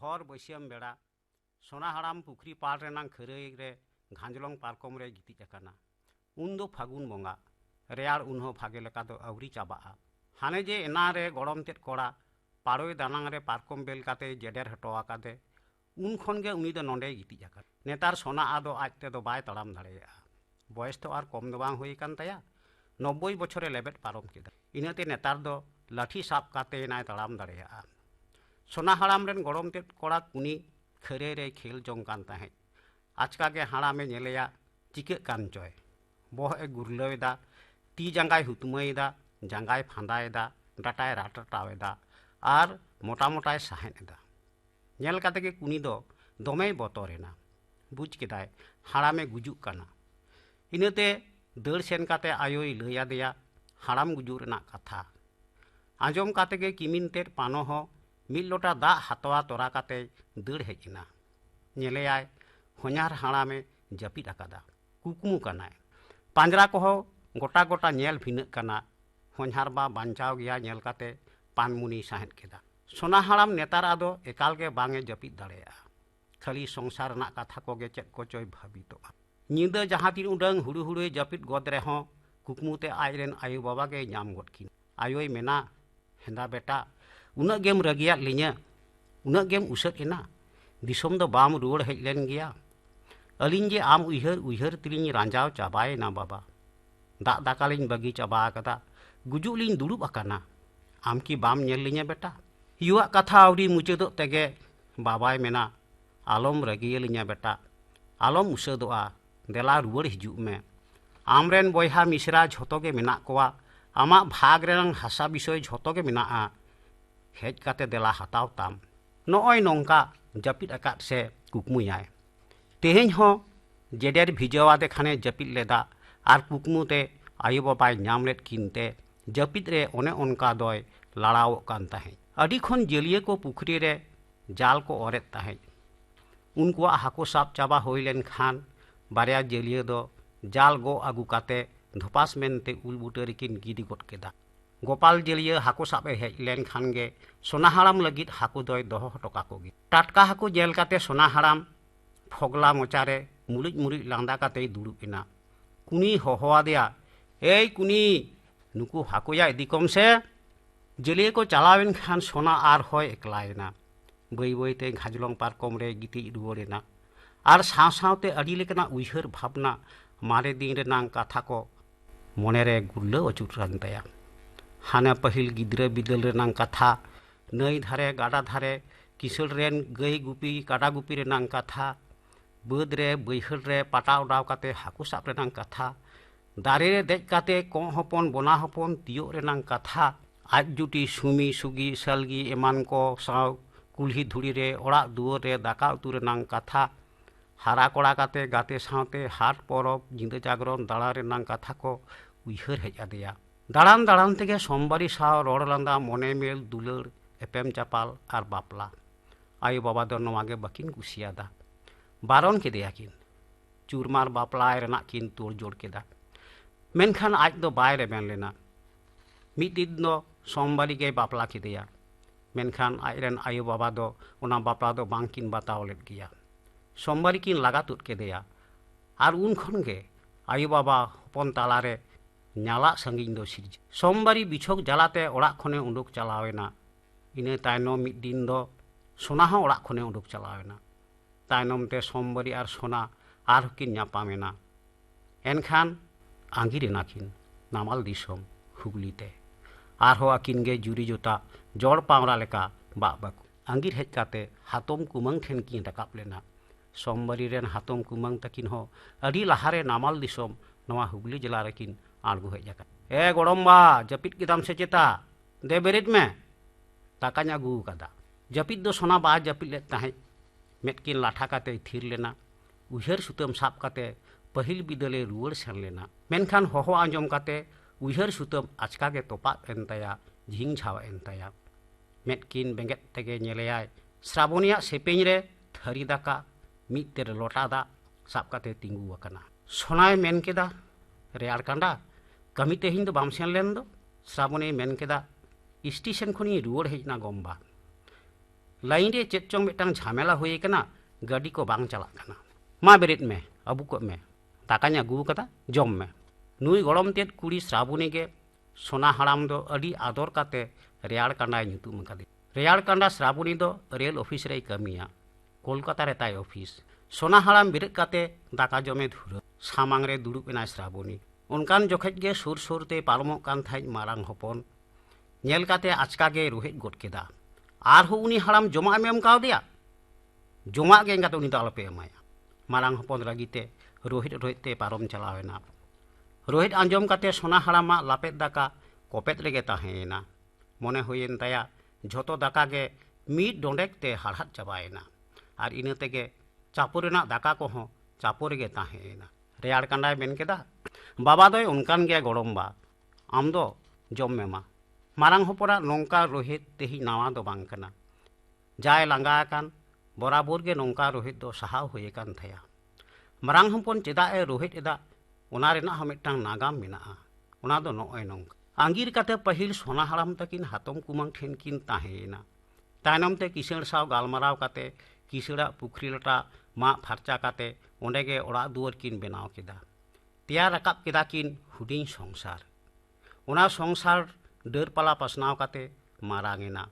ᱵᱷᱚᱨ ᱵᱟᱹᱥᱭᱟᱹᱢ ᱵᱮᱲᱟ ᱥᱚᱱᱟ ᱦᱟᱲᱟᱢ ᱯᱩᱠᱷᱨᱤ ᱯᱟᱲ ᱨᱮᱱᱟᱝ ᱠᱷᱟᱹᱨᱟᱹᱭ ᱨᱮ ᱜᱷᱟᱸᱡᱽᱞᱚᱝ ᱯᱟᱨᱠᱚᱢ ᱨᱮ ᱜᱤᱛᱤᱡ ᱟᱠᱟᱱᱟ ᱩᱱ ᱫᱚ ᱯᱷᱟᱹᱜᱩᱱ ᱵᱚᱸᱜᱟ ᱨᱮᱭᱟᱲ ᱩᱱ ᱦᱚᱸ ᱵᱷᱟᱜᱮ ᱞᱮᱠᱟ ᱫᱚ ᱟᱹᱣᱨᱤ ᱪᱟᱵᱟᱜᱼᱟ ᱦᱟᱱᱮ ᱡᱮ ᱮᱱᱟᱝ ᱨᱮ ᱜᱚᱲᱚᱢ ᱛᱮᱫ ᱠᱚᱲᱟ ᱯᱟᱲᱳᱭ ᱫᱟᱱᱟᱝ ᱨᱮ ᱯᱟᱨᱠᱚᱢ ᱵᱮᱞ ᱠᱟᱛᱮ ᱡᱮᱰᱮᱨ ᱦᱚᱴᱚ ᱟᱠᱟᱫᱮ ᱩᱱ ᱠᱷᱚᱱ ᱜᱮ ᱩᱱᱤ ᱫᱚ ᱱᱚᱸᱰᱮᱭ ᱜᱤᱛᱤᱡ ᱟᱠᱟᱱᱟ ᱱᱮᱛᱟᱨ ᱥᱚᱱᱟ ᱟᱫᱚ ᱟᱡ ᱛᱮᱫᱚ ᱵᱟᱭ ᱛᱟᱲᱟᱢ ᱫᱟᱲᱮᱭᱟᱜᱼᱟ ᱵᱚᱭᱮᱥ ᱫᱚ ᱟᱨ ᱠᱚᱢ ᱫᱚ ᱵᱟᱝ ᱦᱩᱭ ᱟᱠᱟᱱ ᱛᱟᱭᱟ ᱱᱚᱵᱽᱵᱚᱭ ᱵᱚᱪᱷᱚᱨᱮ ᱞᱮᱵᱮᱫ ᱯᱟᱨᱚᱢ ᱠᱮᱫᱟ ᱤᱱᱟᱹᱛᱮ ᱱᱮᱛᱟᱨ ᱫᱚ ᱞᱟᱴᱷᱤ ᱥᱟᱵ ᱠᱟᱛᱮ ᱮᱱᱟᱭ ᱛᱟᱲᱟᱢ ᱫᱟᱲᱮᱭᱟᱜᱼᱟ ᱥᱚᱱᱟ ᱦᱟᱲᱟᱢ ᱨᱮᱱ ᱜᱚᱲᱚᱢ ᱛᱮᱫ ᱠᱚᱲᱟ ᱠᱩᱱᱤ ᱠᱷᱟᱹᱨᱟᱹᱭ ᱨᱮᱭ ᱠᱷᱮᱞ ᱡᱚᱝ ᱠᱟᱱ ᱛᱟᱦᱮᱸᱫ ᱟᱪᱠᱟ ᱜᱮ ᱦᱟᱲᱟᱢᱮ ᱧᱮᱞᱮᱭᱟ ᱪᱤᱠᱟᱹᱜ ᱠᱟᱱ ᱪᱚᱭ ᱵᱚᱦᱚᱜ ᱮ ᱜᱩᱨᱞᱟᱹᱣᱮᱫᱟ ᱛᱤ ᱡᱟᱸᱜᱟᱭ ᱦᱩᱛᱢᱟᱹᱭᱮᱫᱟ ᱡᱟᱸᱜᱟᱭ ᱯᱷᱟᱸᱫᱟᱭᱮᱫᱟ ᱰᱟᱴᱟᱭ ᱨᱟᱴᱨᱟᱴᱟᱣᱮᱫᱟ ᱟᱨ ᱢᱚᱴᱟ ᱢᱚᱴᱟᱭ ᱥᱟᱦᱮᱸᱫ ᱮᱫᱟ ᱧᱮᱞ ᱠᱟᱛᱮ ᱜᱮ ᱩᱱᱤ ᱫᱚ ᱫᱚᱢᱮᱭ ᱵᱚᱛᱚᱨ ᱮᱱᱟ ᱵᱩᱡᱽ ᱠᱮᱫᱟᱭ ᱦᱟᱲᱟᱢᱮ ᱜᱩᱡᱩᱜ ᱠᱟᱱᱟ ᱤᱱᱟᱹᱛᱮ ᱫᱟᱹᱲ ᱥᱮᱱ ᱠᱟᱛᱮ ᱟᱭᱳᱭ ᱞᱟᱹᱭ ᱟᱫᱮᱭᱟ ᱦᱟᱲᱟᱢ ᱜᱩᱡᱩᱜ ᱨᱮᱱᱟᱜ ᱠᱟᱛᱷᱟ ᱟᱸᱡᱚᱢ ᱠᱟᱛᱮ ᱜᱮ ᱠᱤᱢᱤᱱ ᱛᱮᱫ ᱯᱟᱱᱚ ᱦᱚᱸ ᱢᱤᱫ ᱞᱚᱴᱟ ᱫᱟᱜ ᱦᱟᱛᱣᱟ ᱛᱚᱨᱟ ᱠᱟᱛᱮ ᱫᱟᱹᱲ ᱦᱮᱡ ᱮᱱᱟ ᱧᱮᱞᱮᱭᱟᱭ ᱦᱚᱧᱦᱟᱨ ᱦᱟᱲᱟᱢᱮ ᱡᱟᱹᱯᱤᱫ ᱟᱠᱟᱫᱟ ᱠᱩᱠᱢᱩ ᱠᱟᱱᱟᱭ ᱯᱟᱸᱡᱽᱨᱟ ᱠᱚᱦᱚᱸ ᱜᱚᱴᱟ ᱜᱚᱴᱟ ᱧᱮᱞ ᱵᱷᱤᱱᱟᱹᱜ ᱠᱟᱱᱟ ᱦᱚᱧᱦᱟᱨ ᱵᱟ ᱵᱟᱧᱪᱟᱣ ᱜᱮᱭᱟ ᱧᱮᱞ ᱠᱟᱛᱮ ᱯᱟᱱᱢᱩᱱᱤᱭ ᱥᱟᱦᱮᱸᱫ ᱠᱮᱫᱟ ᱥᱚᱱᱟ ᱦᱟᱲᱟᱢ ᱱᱮᱛᱟᱨ ᱟᱫᱚ ᱮᱠᱟᱞ ᱜᱮ ᱵᱟᱝ ᱮ ᱡᱟᱹᱯᱤᱫ ᱫᱟᱲᱮᱭᱟᱜᱼᱟ ᱠᱷᱟᱹᱞᱤ ᱥᱚᱝᱥᱟᱨ ᱨᱮᱱᱟᱜ ᱠᱟᱛᱷᱟ ᱠᱚᱜᱮ ᱪᱮᱫ ᱠᱚᱪᱚᱭ ᱵᱷᱟᱹᱵᱤᱛᱚᱜᱼᱟ ᱧᱤᱫᱟᱹ ᱡᱟᱦᱟᱸ ᱛᱤᱱ ᱩᱰᱟᱹᱝ ᱦᱩᱲᱩ ᱦᱩᱲᱩᱭ ᱡᱟᱹᱯᱤᱫ ᱜᱚᱫ ᱨᱮᱦᱚᱸ ᱠᱩᱠᱢᱩ ᱛᱮ ᱟᱡ ᱨᱮᱱ ᱟᱭᱳ ᱵᱟᱵᱟ ᱜᱮᱭ ᱧᱟᱢ ᱜᱚᱫ ᱠᱤᱱᱟ ᱟᱭᱳᱭ ᱢᱮᱱᱟ ᱦᱮᱸᱫᱟ ᱵᱮᱴᱟ ᱩᱱᱟᱹᱜ ᱜᱮᱢ ᱨᱟᱹᱜᱤᱭᱟᱫ ᱞᱤᱧᱟᱹ ᱩᱱᱟᱹᱜ ᱜᱮᱢ ᱩᱥᱟᱹᱫ ᱮᱱᱟ ᱫᱤᱥᱚᱢ ᱫᱚ ᱵᱟᱢ ᱨᱩᱣᱟᱹᱲ ᱦᱮᱡ ᱞᱮᱱ ᱜᱮᱭᱟ ᱟᱹᱞᱤᱧ ᱡᱮ ᱟᱢ ᱩᱭᱦᱟᱹᱨ ᱩᱭᱦᱟᱹᱨ ᱛᱮᱞᱤᱧ ᱨᱟᱸᱡᱟᱣ ᱪᱟᱵᱟᱭᱮᱱᱟ ᱵᱟᱵᱟ ᱫᱟᱜ ᱫᱟᱠᱟ ᱞᱤᱧ ᱵᱟᱹᱜᱤ ᱪᱟᱵᱟ ᱟᱠᱟᱫᱟ ᱜᱩᱡᱩᱜ ᱞᱤᱧ ᱫᱩᱲᱩᱵ ᱟᱠᱟᱱᱟ ᱟᱢ ᱠᱤ ᱵᱟᱢ ᱧᱮᱞ ᱞᱤᱧᱟ ᱵᱮᱴᱟ ᱭᱩᱣᱟᱜ ᱠᱟᱛᱷᱟ ᱟᱹᱣᱨᱤ ᱢᱩᱪᱟᱹᱫᱚᱜ ᱛᱮᱜᱮ ᱵᱟᱵᱟᱭ ᱢᱮᱱᱟ ᱟᱞᱚᱢ ᱨᱟᱹᱜᱤᱭᱟᱹᱞᱤᱧᱟ ᱵᱮᱴᱟ ᱟᱞᱚᱢ ᱩᱥᱟᱹᱫᱚᱜᱼᱟ ᱫᱮᱞᱟ ᱨᱩᱣᱟᱹᱲ ᱦᱤᱡᱩᱜ ᱢᱮ ᱟᱢ ᱨᱮᱱ ᱵᱚᱭᱦᱟ ᱢᱤᱥᱨᱟ ᱡᱷᱚᱛᱚ ᱜᱮ ᱢᱮᱱᱟᱜ ᱠᱚᱣᱟ ᱟᱢᱟᱜ ᱵᱷᱟᱜᱽ ᱨᱮᱱᱟᱝ ᱦᱟᱥᱟ ᱵᱤᱥᱚᱭ ᱡᱷᱚᱛᱚ ᱜᱮ ᱢᱮᱱᱟᱜᱼᱟ ᱦᱮᱡ ᱠᱟᱛᱮ ᱫᱮᱞᱟ ᱦᱟᱛᱟᱣ ᱛᱟᱢ ᱱᱚᱜᱼᱚᱭ ᱱᱚᱝᱠᱟ ᱡᱟᱹᱯᱤᱫ ᱟᱠᱟᱫ ᱥᱮ ᱠᱩᱠᱢᱩᱭᱟᱭ ᱛᱮᱦᱮᱧ ᱦᱚᱸ ᱡᱮᱰᱮᱨ ᱵᱷᱤᱡᱟᱹᱣ ᱟᱫᱮ ᱠᱷᱟᱱᱮ ᱡᱟᱹᱯᱤᱫ ᱞᱮᱫᱟ ᱟᱨ ᱠᱩᱠᱢᱩ ᱛᱮ ᱟᱭᱳ ᱵᱟᱵᱟᱭ ᱧᱟᱢ ᱞᱮᱫ ᱠᱤᱱ ᱛᱮ ᱡᱟᱹᱯᱤᱫ ᱨᱮ ᱚᱱᱮ ᱚᱱᱠᱟ ᱫᱚᱭ ᱞᱟᱲᱟᱣᱜ ᱠᱟᱱ ᱛᱟᱦᱮᱸᱫ᱾ ᱟᱹᱰᱤ ᱠᱷᱚᱱ ᱡᱟᱹᱞᱤᱭᱟᱹ ᱠᱚ ᱯᱩᱠᱷᱨᱤ ᱨᱮ ᱡᱟᱞ ᱠᱚ ᱚᱨᱮᱫ ᱛᱟᱦᱮᱸᱫ᱾ ᱩᱱᱠᱩᱣᱟᱜ ᱦᱟᱹᱠᱩ ᱥᱟᱵ ᱪᱟᱵᱟ ᱦᱩᱭ ᱞᱮᱱ ᱠᱷᱟᱱ ᱵᱟᱨᱭᱟ ᱡᱟᱹᱞᱤᱭᱟᱹ ᱫᱚ ᱡᱟᱞ ᱜᱚᱜ ᱟᱹᱜᱩ ᱠᱟᱛᱮ ᱫᱷᱚᱯᱟᱥ ᱢᱮᱱᱛᱮ ᱩᱞ ᱵᱩᱴᱟᱹ ᱨᱮᱠᱤᱱ ᱜᱤᱰᱤ ᱜᱚᱫ ᱠᱮᱫᱟ᱾ ᱜᱚᱯᱟᱞ ᱡᱟᱹᱞᱤᱭᱟᱹ ᱦᱟᱹᱠᱩ ᱥᱟᱵ ᱮ ᱦᱮᱡ ᱞᱮᱱ ᱠᱷᱟᱱ ᱜᱮ ᱥᱚᱱᱟ ᱦᱟᱲᱟᱢ ᱞᱟᱹᱜᱤᱫ ᱦᱟᱹᱠᱩ ᱫᱚᱭ ᱫᱚᱦᱚ ᱦᱚᱴᱚ ᱠᱟᱠᱚ ᱜᱮ ᱴᱟᱴᱠᱟ ᱦᱟᱹᱠᱩ ᱧᱮᱞ ᱠᱟᱛᱮ ᱥᱚᱱᱟ ᱦᱟᱲᱟᱢ ᱯᱷᱚᱜᱽᱞᱟ ᱢᱚᱪᱟᱨᱮ ᱢᱩᱞᱩᱡ ᱢᱩᱞᱩᱡ ᱞᱟᱸᱫᱟ ᱠᱟᱛᱮᱭ ᱫᱩᱲᱩᱵ ᱮᱱᱟ ᱠᱩᱱᱤᱭ ᱦᱚᱦᱚ ᱟᱫᱮᱭᱟ ᱮᱭ ᱠᱩᱱᱤ ᱱᱩᱠᱩ ᱦᱟᱹᱠᱩᱭᱟ ᱤᱫᱤ ᱠᱚᱢ ᱥᱮ ᱡᱟᱹᱞᱤᱭᱟᱹ ᱠᱚ ᱪᱟᱞᱟᱣ ᱮᱱ ᱠᱷᱟᱱ ᱥᱚᱱᱟ ᱟᱨ ᱦᱚᱭ ᱮᱠᱞᱟᱭᱮᱱᱟ ᱵᱟᱹᱭ ᱵᱟᱹᱭ ᱛᱮ ᱜᱷᱟᱡᱽᱞᱚᱝ ᱯᱟᱨᱠᱚᱢ ᱨᱮ ᱜᱤᱛᱤᱡ ᱨᱩᱣᱟᱹᱲ ᱮᱱᱟ ᱟᱨ ᱥᱟᱶ ᱥᱟᱶᱛᱮ ᱟᱹᱰᱤ ᱞᱮᱠᱟᱱᱟᱜ ᱩᱭᱦᱟᱹᱨ ᱵᱷᱟᱵᱽᱱᱟ ᱢᱟᱨᱮ ᱫᱤᱱ ᱨᱮᱱᱟᱝ ᱠᱟᱛᱷᱟ ᱠᱚ ᱢᱚᱱᱮᱨᱮ ᱜᱩᱨᱞᱟᱹᱣ ᱟᱹᱪᱩᱨ ᱞᱮᱱ ᱛᱟᱭᱟ ᱦᱟᱱᱮ ᱯᱟᱹᱦᱤᱞ ᱜᱤᱫᱽᱨᱟᱹ ᱵᱤᱫᱟᱹᱞ ᱨᱮᱱᱟᱜ ᱠᱟᱛᱷᱟ ᱱᱟᱹᱭ ᱫᱷᱟᱨᱮ ᱜᱟᱰᱟ ᱫᱷᱟᱨᱮ ᱠᱤᱥᱟᱹᱬ ᱨᱮᱱ ᱜᱟᱹᱭ ᱜᱩᱯᱤ ᱠᱟᱰᱟ ᱜᱩᱯᱤ ᱨᱮᱱᱟᱜ ᱠᱟᱛᱷᱟ ᱵᱟᱹᱫᱽ ᱨᱮ ᱵᱟᱹᱭᱦᱟᱹᱲ ᱨᱮ ᱯᱟᱴᱟ ᱚᱰᱟᱣ ᱠᱟᱛᱮ ᱦᱟᱹᱠᱩ ᱥᱟᱵ ᱨᱮᱱᱟᱜ ᱠᱟᱛᱷᱟ ᱫᱟᱨᱮ ᱨᱮ ᱫᱮᱡ ᱠᱟᱛᱮ ᱠᱚᱸᱜ ᱦᱚᱯᱚᱱ ᱵᱚᱱᱟ ᱦᱚᱯᱚᱱ ᱛᱤᱭᱳᱜ ᱨᱮᱱᱟᱜ ᱠᱟᱛᱷᱟ ᱟᱡ ᱡᱩᱴᱤ ᱥᱩᱢᱤ ᱥᱩᱜᱤ ᱥᱟᱞᱜᱤ ᱮᱢᱟᱱ ᱠᱚ ᱥᱟᱶ ᱠᱩᱞᱦᱤ ᱫᱷᱩᱲᱤ ᱨᱮ ᱚᱲᱟᱜ ᱫᱩᱣᱟᱹᱨ ᱨᱮ ᱫᱟᱠᱟ ᱩᱛᱩ ᱨᱮᱱᱟᱜ ᱠᱟᱛᱷᱟ ᱦᱟᱨᱟ ᱠᱚᱲᱟ ᱠᱟᱛᱮ ᱜᱟᱛᱮ ᱥᱟᱶᱛᱮ ᱦᱟᱴ ᱯᱚᱨᱚᱵᱽ ᱧᱤᱫᱟᱹ ᱡᱟᱜᱽᱨᱚᱱ ᱫᱟᱬᱟ ᱨᱮᱱᱟᱝ ᱠᱟᱛᱷᱟ ᱠᱚ ᱩᱭᱦᱟᱹᱨ ᱦᱮᱡ ᱟᱫᱮᱭᱟ ᱫᱟᱬᱟᱱ ᱫᱟᱬᱟᱱ ᱛᱮᱜᱮ ᱥᱚᱢᱵᱟᱨᱤ ᱥᱟᱶ ᱨᱚᱲ ᱞᱟᱸᱫᱟ ᱢᱚᱱᱮ ᱢᱮᱞ ᱫᱩᱞᱟᱹᱲ ᱮᱯᱮᱢ ᱪᱟᱯᱟᱞ ᱟᱨ ᱵᱟᱯᱞᱟ ᱟᱭᱳ ᱵᱟᱵᱟ ᱫᱚ ᱱᱚᱣᱟ ᱜᱮ ᱵᱟᱠᱤᱱ ᱠᱩᱥᱤᱭᱟᱫᱟ ᱵᱟᱨᱚᱱ ᱠᱮᱫᱮᱭᱟ ᱠᱤᱱ ᱪᱩᱨᱢᱟᱨ ᱵᱟᱯᱞᱟᱭ ᱨᱮᱱᱟᱜ ᱠᱤᱱ ᱛᱳᱲ ᱡᱳᱲ ᱠᱮᱫᱟ ᱢᱮᱱᱠᱷᱟᱱ ᱟᱡ ᱫᱚ ᱵᱟᱭ ᱨᱮᱵᱮᱱ ᱞᱮᱱᱟ ᱢᱤᱫ ᱫᱤᱱ ᱫᱚ ᱥᱚᱢᱵᱟᱨᱤ ᱜᱮᱭ ᱵᱟᱯᱞᱟ ᱠᱮᱫᱮᱭᱟ ᱢᱮᱱᱠᱷᱟᱱ ᱟᱡ ᱨᱮᱱ ᱟᱭᱳ ᱵᱟᱵᱟ ᱫᱚ ᱚᱱᱟ ᱵᱟᱯᱞᱟ ᱫᱚ ᱵᱟᱝ ᱠᱤᱱ ᱵᱟᱛᱟᱣ ᱞᱮᱫ ᱜᱮᱭᱟ ᱥᱚᱢᱵᱟᱨᱤ ᱠᱤᱱ ᱞᱟᱜᱟ ᱛᱩᱫ ᱠᱮᱫᱮᱭᱟ ᱟᱨ ᱩᱱ ᱠᱷᱚᱱ ᱜᱮ ᱟᱭᱳ ᱵᱟᱵᱟ ᱦᱚᱯᱚᱱ ᱛᱟᱞᱟ ᱨᱮ ᱧᱟᱞᱟᱜ ᱥᱟᱺᱜᱤᱧ ᱫᱚ ᱥᱤᱨᱡᱟᱹ᱾ ᱥᱚᱢᱵᱟᱨᱤ ᱵᱤᱪᱷᱚᱠ ᱡᱟᱞᱟ ᱛᱮ ᱚᱲᱟᱜ ᱠᱷᱚᱱ ᱮ ᱩᱰᱩᱠ ᱪᱟᱞᱟᱣ ᱮᱱᱟ᱾ ᱤᱱᱟᱹ ᱛᱟᱭᱱᱚᱢ ᱢᱤᱫ ᱫᱤᱱ ᱫᱚ ᱥᱚᱱᱟ ᱦᱚᱸ ᱚᱲᱟᱜ ᱠᱷᱚᱱ ᱮ ᱩᱰᱩᱠ ᱪᱟᱞᱟᱣ ᱮᱱᱟ᱾ ᱛᱟᱭᱱᱚᱢ ᱛᱮ ᱥᱚᱢᱵᱟᱨᱤ ᱟᱨ ᱥᱚᱱᱟ ᱟᱨᱦᱚᱸ ᱠᱤᱱ ᱧᱟᱯᱟᱢ ᱮᱱᱟ᱾ ᱮᱱᱠᱷᱟᱱ ᱟᱺᱜᱤᱨ ᱮᱱᱟ ᱠᱤᱱ ᱱᱟᱢᱟᱞ ᱫᱤᱥᱚᱢ ᱦᱩᱜᱽᱞᱤ ᱛᱮ᱾ ᱟᱨᱦᱚᱸ ᱟᱹᱠᱤᱱ ᱜᱮ ᱡᱩᱨᱤ ᱡᱚᱛᱟ ᱡᱚᱲ ᱯᱟᱣᱨᱟ ᱞᱮᱠᱟ ᱵᱟᱜ ᱵᱟᱹᱠᱩ᱾ ᱟᱺᱜᱤᱨ ᱦᱮᱡ ᱠᱟᱛᱮ ᱦᱟᱛᱚᱢ ᱠᱩᱢᱟᱹᱝ ᱴᱷᱮᱱ ᱠᱤᱱ ᱨᱟᱠᱟᱵ ᱞᱮᱱᱟ ᱥᱚᱢᱵᱟᱨᱤ ᱨᱮᱱ ᱦᱟᱛᱚᱢ ᱠᱩᱢᱟᱹᱝ ᱛᱟᱹᱠᱤᱱ ᱦᱚᱸ ᱟᱹᱰᱤ ᱞᱟᱦᱟ ᱨᱮ ᱱᱟᱢᱟᱞ ᱫᱤᱥᱚᱢ ᱱᱚᱣᱟ ᱦᱩᱜᱽᱞᱤ ᱡᱮᱞᱟ ᱨᱮ ᱠᱤᱱ ᱟᱬᱜᱚ ᱦᱮᱡ ᱟᱠᱟᱱᱟ ᱮ ᱜᱚᱲᱚᱢ ᱵᱟ ᱡᱟᱹᱯᱤᱫ ᱠᱮᱫᱟᱢ ᱥᱮ ᱪᱮᱛᱟ ᱫᱮ ᱵᱮᱨᱮᱫ ᱢᱮ ᱫᱟᱠᱟᱧ ᱟᱹᱜᱩ ᱟᱠᱟᱫᱟ ᱡᱟᱹᱯᱤᱫ ᱫᱚ ᱥᱚᱱᱟ ᱵᱟᱭ ᱡᱟᱹᱯᱤᱫ ᱞᱮᱫ ᱛᱟᱦᱮᱸᱫ ᱢᱮᱫ ᱠᱤᱱ ᱞᱟᱴᱷᱟ ᱠᱟᱛᱮ ᱛᱷᱤᱨ ᱞᱮᱱᱟ ᱩᱭᱦᱟᱹᱨ ᱥᱩᱛᱟᱹᱢ ᱥᱟᱵ ᱠᱟᱛᱮ ᱯᱟᱹᱦᱤᱞ ᱵᱤᱫᱟᱹᱞ ᱮ ᱨᱩᱣᱟᱹᱲ ᱥᱮᱱ ᱞᱮᱱᱟ ᱢᱮᱱᱠᱷᱟᱱ ᱦᱚᱦᱚ ᱟᱸᱡᱚᱢ ᱠᱟᱛᱮ ᱩᱭᱦᱟᱹᱨ ᱥᱩᱛᱟᱹᱢ ᱟᱪᱠᱟ ᱜᱮ ᱛᱚᱯᱟᱜ ᱮᱱ ᱛᱟᱭᱟ ᱡᱷᱤᱝ ᱡᱷᱟᱣ ᱮᱱ ᱛᱟᱭᱟ ᱢᱮᱫ ᱠᱤᱱ ᱵᱮᱸᱜᱮᱫ ᱛᱮᱜᱮ ᱧᱮᱞᱮᱭᱟᱭ ᱥᱨᱟᱵᱚᱱᱤᱭᱟᱜ ᱥᱮᱯᱮᱧ ᱨᱮ ᱛᱷᱟᱹᱨᱤ ᱫᱟᱠᱟ ᱢᱤᱫ ᱛᱮ ᱞᱚᱴᱟ ᱫᱟᱜ ᱥᱟᱵ ᱠᱟᱛᱮ ᱛᱤᱸᱜᱩ ᱟᱠᱟᱱᱟ ᱥᱚᱱᱟᱭ ᱢᱮᱱ ᱠᱮᱫᱟ ᱨᱮᱭᱟᱲ ᱠᱟᱸᱰᱟ ᱠᱟᱹᱢᱤ ᱛᱮᱦᱮᱧ ᱫᱚ ᱵᱟᱢ ᱥᱮᱱ ᱞᱮᱱ ᱫᱚ ᱥᱨᱟᱵᱚᱱᱤᱭ ᱢᱮᱱ ᱠᱮᱫᱟ ᱥᱴᱮᱥᱚᱱ ᱠᱷᱚᱱᱤᱧ ᱨᱩᱣᱟᱹᱲ ᱦᱮᱡ ᱮᱱᱟ ᱜᱚᱢᱵᱟ ᱞᱟᱭᱤᱱ ᱨᱮ ᱪᱮᱫ ᱪᱚᱝ ᱢᱤᱫᱴᱟᱝ ᱡᱷᱟᱢᱮᱞᱟ ᱦᱩᱭ ᱟᱠᱟᱱᱟ ᱜᱟᱹᱰᱤ ᱠᱚ ᱵᱟᱝ ᱪᱟᱞᱟᱜ ᱠᱟᱱᱟ ᱢᱟ ᱵᱮᱨᱮᱫ ᱢᱮ ᱟᱹᱵᱩᱠᱚᱜ ᱢᱮ ᱫᱟᱠᱟᱧ ᱟᱹᱜᱩ ᱟᱠᱟᱫᱟ ᱡᱚᱢ ᱢᱮ ᱱᱩᱭ ᱜᱚᱲᱚᱢ ᱛᱮᱫ ᱠᱩᱲᱤ ᱥᱨᱟᱵᱚᱱᱤ ᱜᱮ ᱥᱚᱱᱟ ᱦᱟᱲᱟᱢ ᱫᱚ ᱟᱹᱰᱤ ᱟᱫᱚᱨ ᱠᱟᱛᱮ ᱨᱮᱭᱟᱲ ᱠᱟᱸᱰᱟᱭ ᱧᱩᱛᱩᱢ ᱟᱠᱟᱫᱮ ᱨᱮᱭᱟᱲ ᱠᱟᱸᱰᱟ ᱥᱨᱟᱵᱚᱱᱤ ᱫᱚ ᱨᱮᱞ ᱚᱯᱷᱤᱥ ᱨᱮᱭ ᱠᱟᱹᱢᱤᱭᱟ ᱠᱳᱞᱠᱟᱛᱟ ᱨᱮ ᱛᱟᱭ ᱚᱯᱷᱤᱥ ᱥᱚᱱᱟ ᱦᱟᱲᱟᱢ ᱵᱮᱨᱮᱫ ᱠᱟᱛᱮ ᱫᱟᱠᱟ ᱡᱚᱢᱮ ᱫᱷᱩᱨᱟᱹ ᱥᱟᱢᱟᱝ ᱨᱮ ᱫᱩᱲᱩᱵ ᱮᱱᱟᱭ ᱥᱨᱟᱵᱚᱱᱤ ᱚᱱᱠᱟᱱ ᱡᱚᱠᱷᱮᱡ ᱜᱮ ᱥᱩᱨ ᱥᱩᱨ ᱛᱮ ᱯᱟᱨᱚᱢᱚᱜ ᱠᱟᱱ ᱛᱟᱦᱮᱸᱫ ᱢᱟᱨᱟᱝ ᱦᱚᱯᱚᱱ ᱧᱮᱞ ᱠᱟᱛᱮ ᱟᱪᱠᱟ ᱜᱮᱭ ᱨᱩᱦᱮᱫ ᱜᱚᱫ ᱠᱮᱫᱟ ᱟᱨᱦᱚᱸ ᱩᱱᱤ ᱦᱟᱲᱟᱢ ᱡᱚᱢᱟᱜ ᱮᱢ ᱮᱢ ᱠᱟᱣᱫᱮᱭᱟ ᱡᱚᱢᱟᱜ ᱜᱮ ᱮᱸᱜᱟᱛ ᱩᱱᱤ ᱫᱚ ᱟᱞᱚᱯᱮ ᱮᱢᱟᱭᱟ ᱢᱟᱨᱟᱝ ᱦᱚᱯᱚᱱ ᱨᱟᱹᱜᱤ ᱛᱮ ᱨᱳᱦᱤᱛ ᱨᱳᱦᱤᱛ ᱛᱮ ᱯᱟᱨᱚᱢ ᱪᱟᱞᱟᱣ ᱮᱱᱟ ᱨᱳᱦᱤᱛ ᱟᱸᱡᱚᱢ ᱠᱟᱛᱮ ᱥᱚᱱᱟ ᱦᱟᱲᱟᱢᱟᱜ ᱞᱟᱯᱮᱫ ᱫᱟᱠᱟ ᱠᱚᱯᱮᱫ ᱨᱮᱜᱮ ᱛᱟᱦᱮᱸᱭᱮᱱᱟ ᱢᱚᱱᱮ ᱦᱩᱭᱮᱱ ᱛᱟᱭᱟ ᱡᱷᱚᱛᱚ ᱫᱟᱠᱟ ᱜᱮ ᱢᱤᱫ ᱰᱚᱸᱰᱮᱠ ᱛᱮ ᱦᱟᱲᱦᱟᱫ ᱪᱟᱵᱟᱭᱮᱱᱟ ᱟᱨ ᱤᱱᱟᱹ ᱛᱮᱜᱮ ᱪᱟᱯᱚ ᱨᱮᱱᱟᱜ ᱫᱟᱠᱟ ᱠᱚᱦᱚᱸ ᱪᱟᱯᱚ ᱨᱮᱜᱮ ᱛᱟᱦᱮᱸᱭᱮᱱᱟ ᱨᱮᱭᱟᱲ ᱠᱟᱸᱰᱟᱭ ᱢᱮᱱ ᱠᱮᱫᱟ ᱵᱟᱵᱟ ᱫᱚᱭ ᱚᱱᱠᱟᱱ ᱜᱮᱭᱟ ᱜᱚᱲᱚᱢ ᱵᱟ ᱟᱢ ᱫᱚ ᱡᱚᱢ ᱢᱮ ᱢᱟ ᱢᱟᱨᱟᱝ ᱦᱚᱯᱚᱱᱟᱜ ᱱᱚᱝᱠᱟ ᱨᱳᱦᱤᱛ ᱛᱮᱦᱮᱧ ᱱᱟᱣᱟ ᱫᱚ ᱵᱟᱝ ᱠᱟᱱᱟ ᱡᱟᱭ ᱞᱟᱸᱜᱟ ᱟᱠᱟᱱ ᱵᱚᱨᱟᱵᱚᱨ ᱜᱮ ᱱᱚᱝᱠᱟ ᱨᱳᱦᱤᱛ ᱫᱚ ᱥᱟᱦᱟᱣ ᱦᱩᱭ ᱟᱠᱟᱱ ᱛᱟᱭᱟ ᱢᱟᱨᱟᱝ ᱦᱚᱯᱚᱱ ᱪᱮᱫᱟᱜ ᱮ ᱨᱳᱦᱤᱛ ᱮᱫᱟ ᱚᱱᱟ ᱨᱮᱱᱟᱜ ᱦᱚᱸ ᱢᱤᱫᱴᱟᱝ ᱱᱟᱜᱟᱢ ᱢᱮᱱᱟᱜᱼᱟ ᱚᱱᱟ ᱫᱚ ᱱᱚᱜᱼᱚᱭ ᱱᱚᱝᱠᱟ ᱟᱸᱜᱤᱨ ᱠᱟᱛᱮ ᱯᱟᱹᱦᱤᱞ ᱥᱚᱱᱟ ᱦᱟᱲᱟᱢ ᱛᱟᱹᱠᱤᱱ ᱦᱟᱛᱚᱢ ᱠᱩᱢᱟᱹᱝ ᱴᱷᱮᱱ ᱠᱤᱱ ᱛᱟᱦᱮᱸᱭᱮᱱᱟ ᱛᱟᱭᱱᱚᱢ ᱛᱮ ᱠᱤᱥᱟᱹᱬ ᱥᱟᱶ ᱜᱟᱞᱢᱟᱨᱟᱣ ᱠᱟᱛᱮ ᱠᱤᱥᱟᱹᱬᱟᱜ ᱯᱩᱠᱷᱨᱤ ᱞᱚᱴᱟ ᱢᱟᱜ ᱯᱷᱟᱨᱪᱟ ᱠᱟᱛᱮ ᱚᱸᱰᱮ ᱜᱮ ᱚᱲᱟᱜ ᱫᱩᱣᱟᱹᱨ ᱠᱤᱱ ᱵᱮᱱᱟᱣ ᱠᱮᱫᱟ ᱛᱮᱭᱟᱨ ᱨᱟᱠᱟᱵ ᱠᱮᱫᱟ ᱠᱤᱱ ᱦᱩᱰᱤᱧ ᱥᱚᱝᱥᱟᱨ ᱚᱱᱟ ᱥᱚᱝᱥᱟᱨ ᱰᱟᱹᱨ ᱯᱟᱞᱟ ᱯᱟᱥᱱᱟᱣ ᱠᱟᱛᱮ ᱢᱟᱨᱟᱝ ᱮᱱᱟ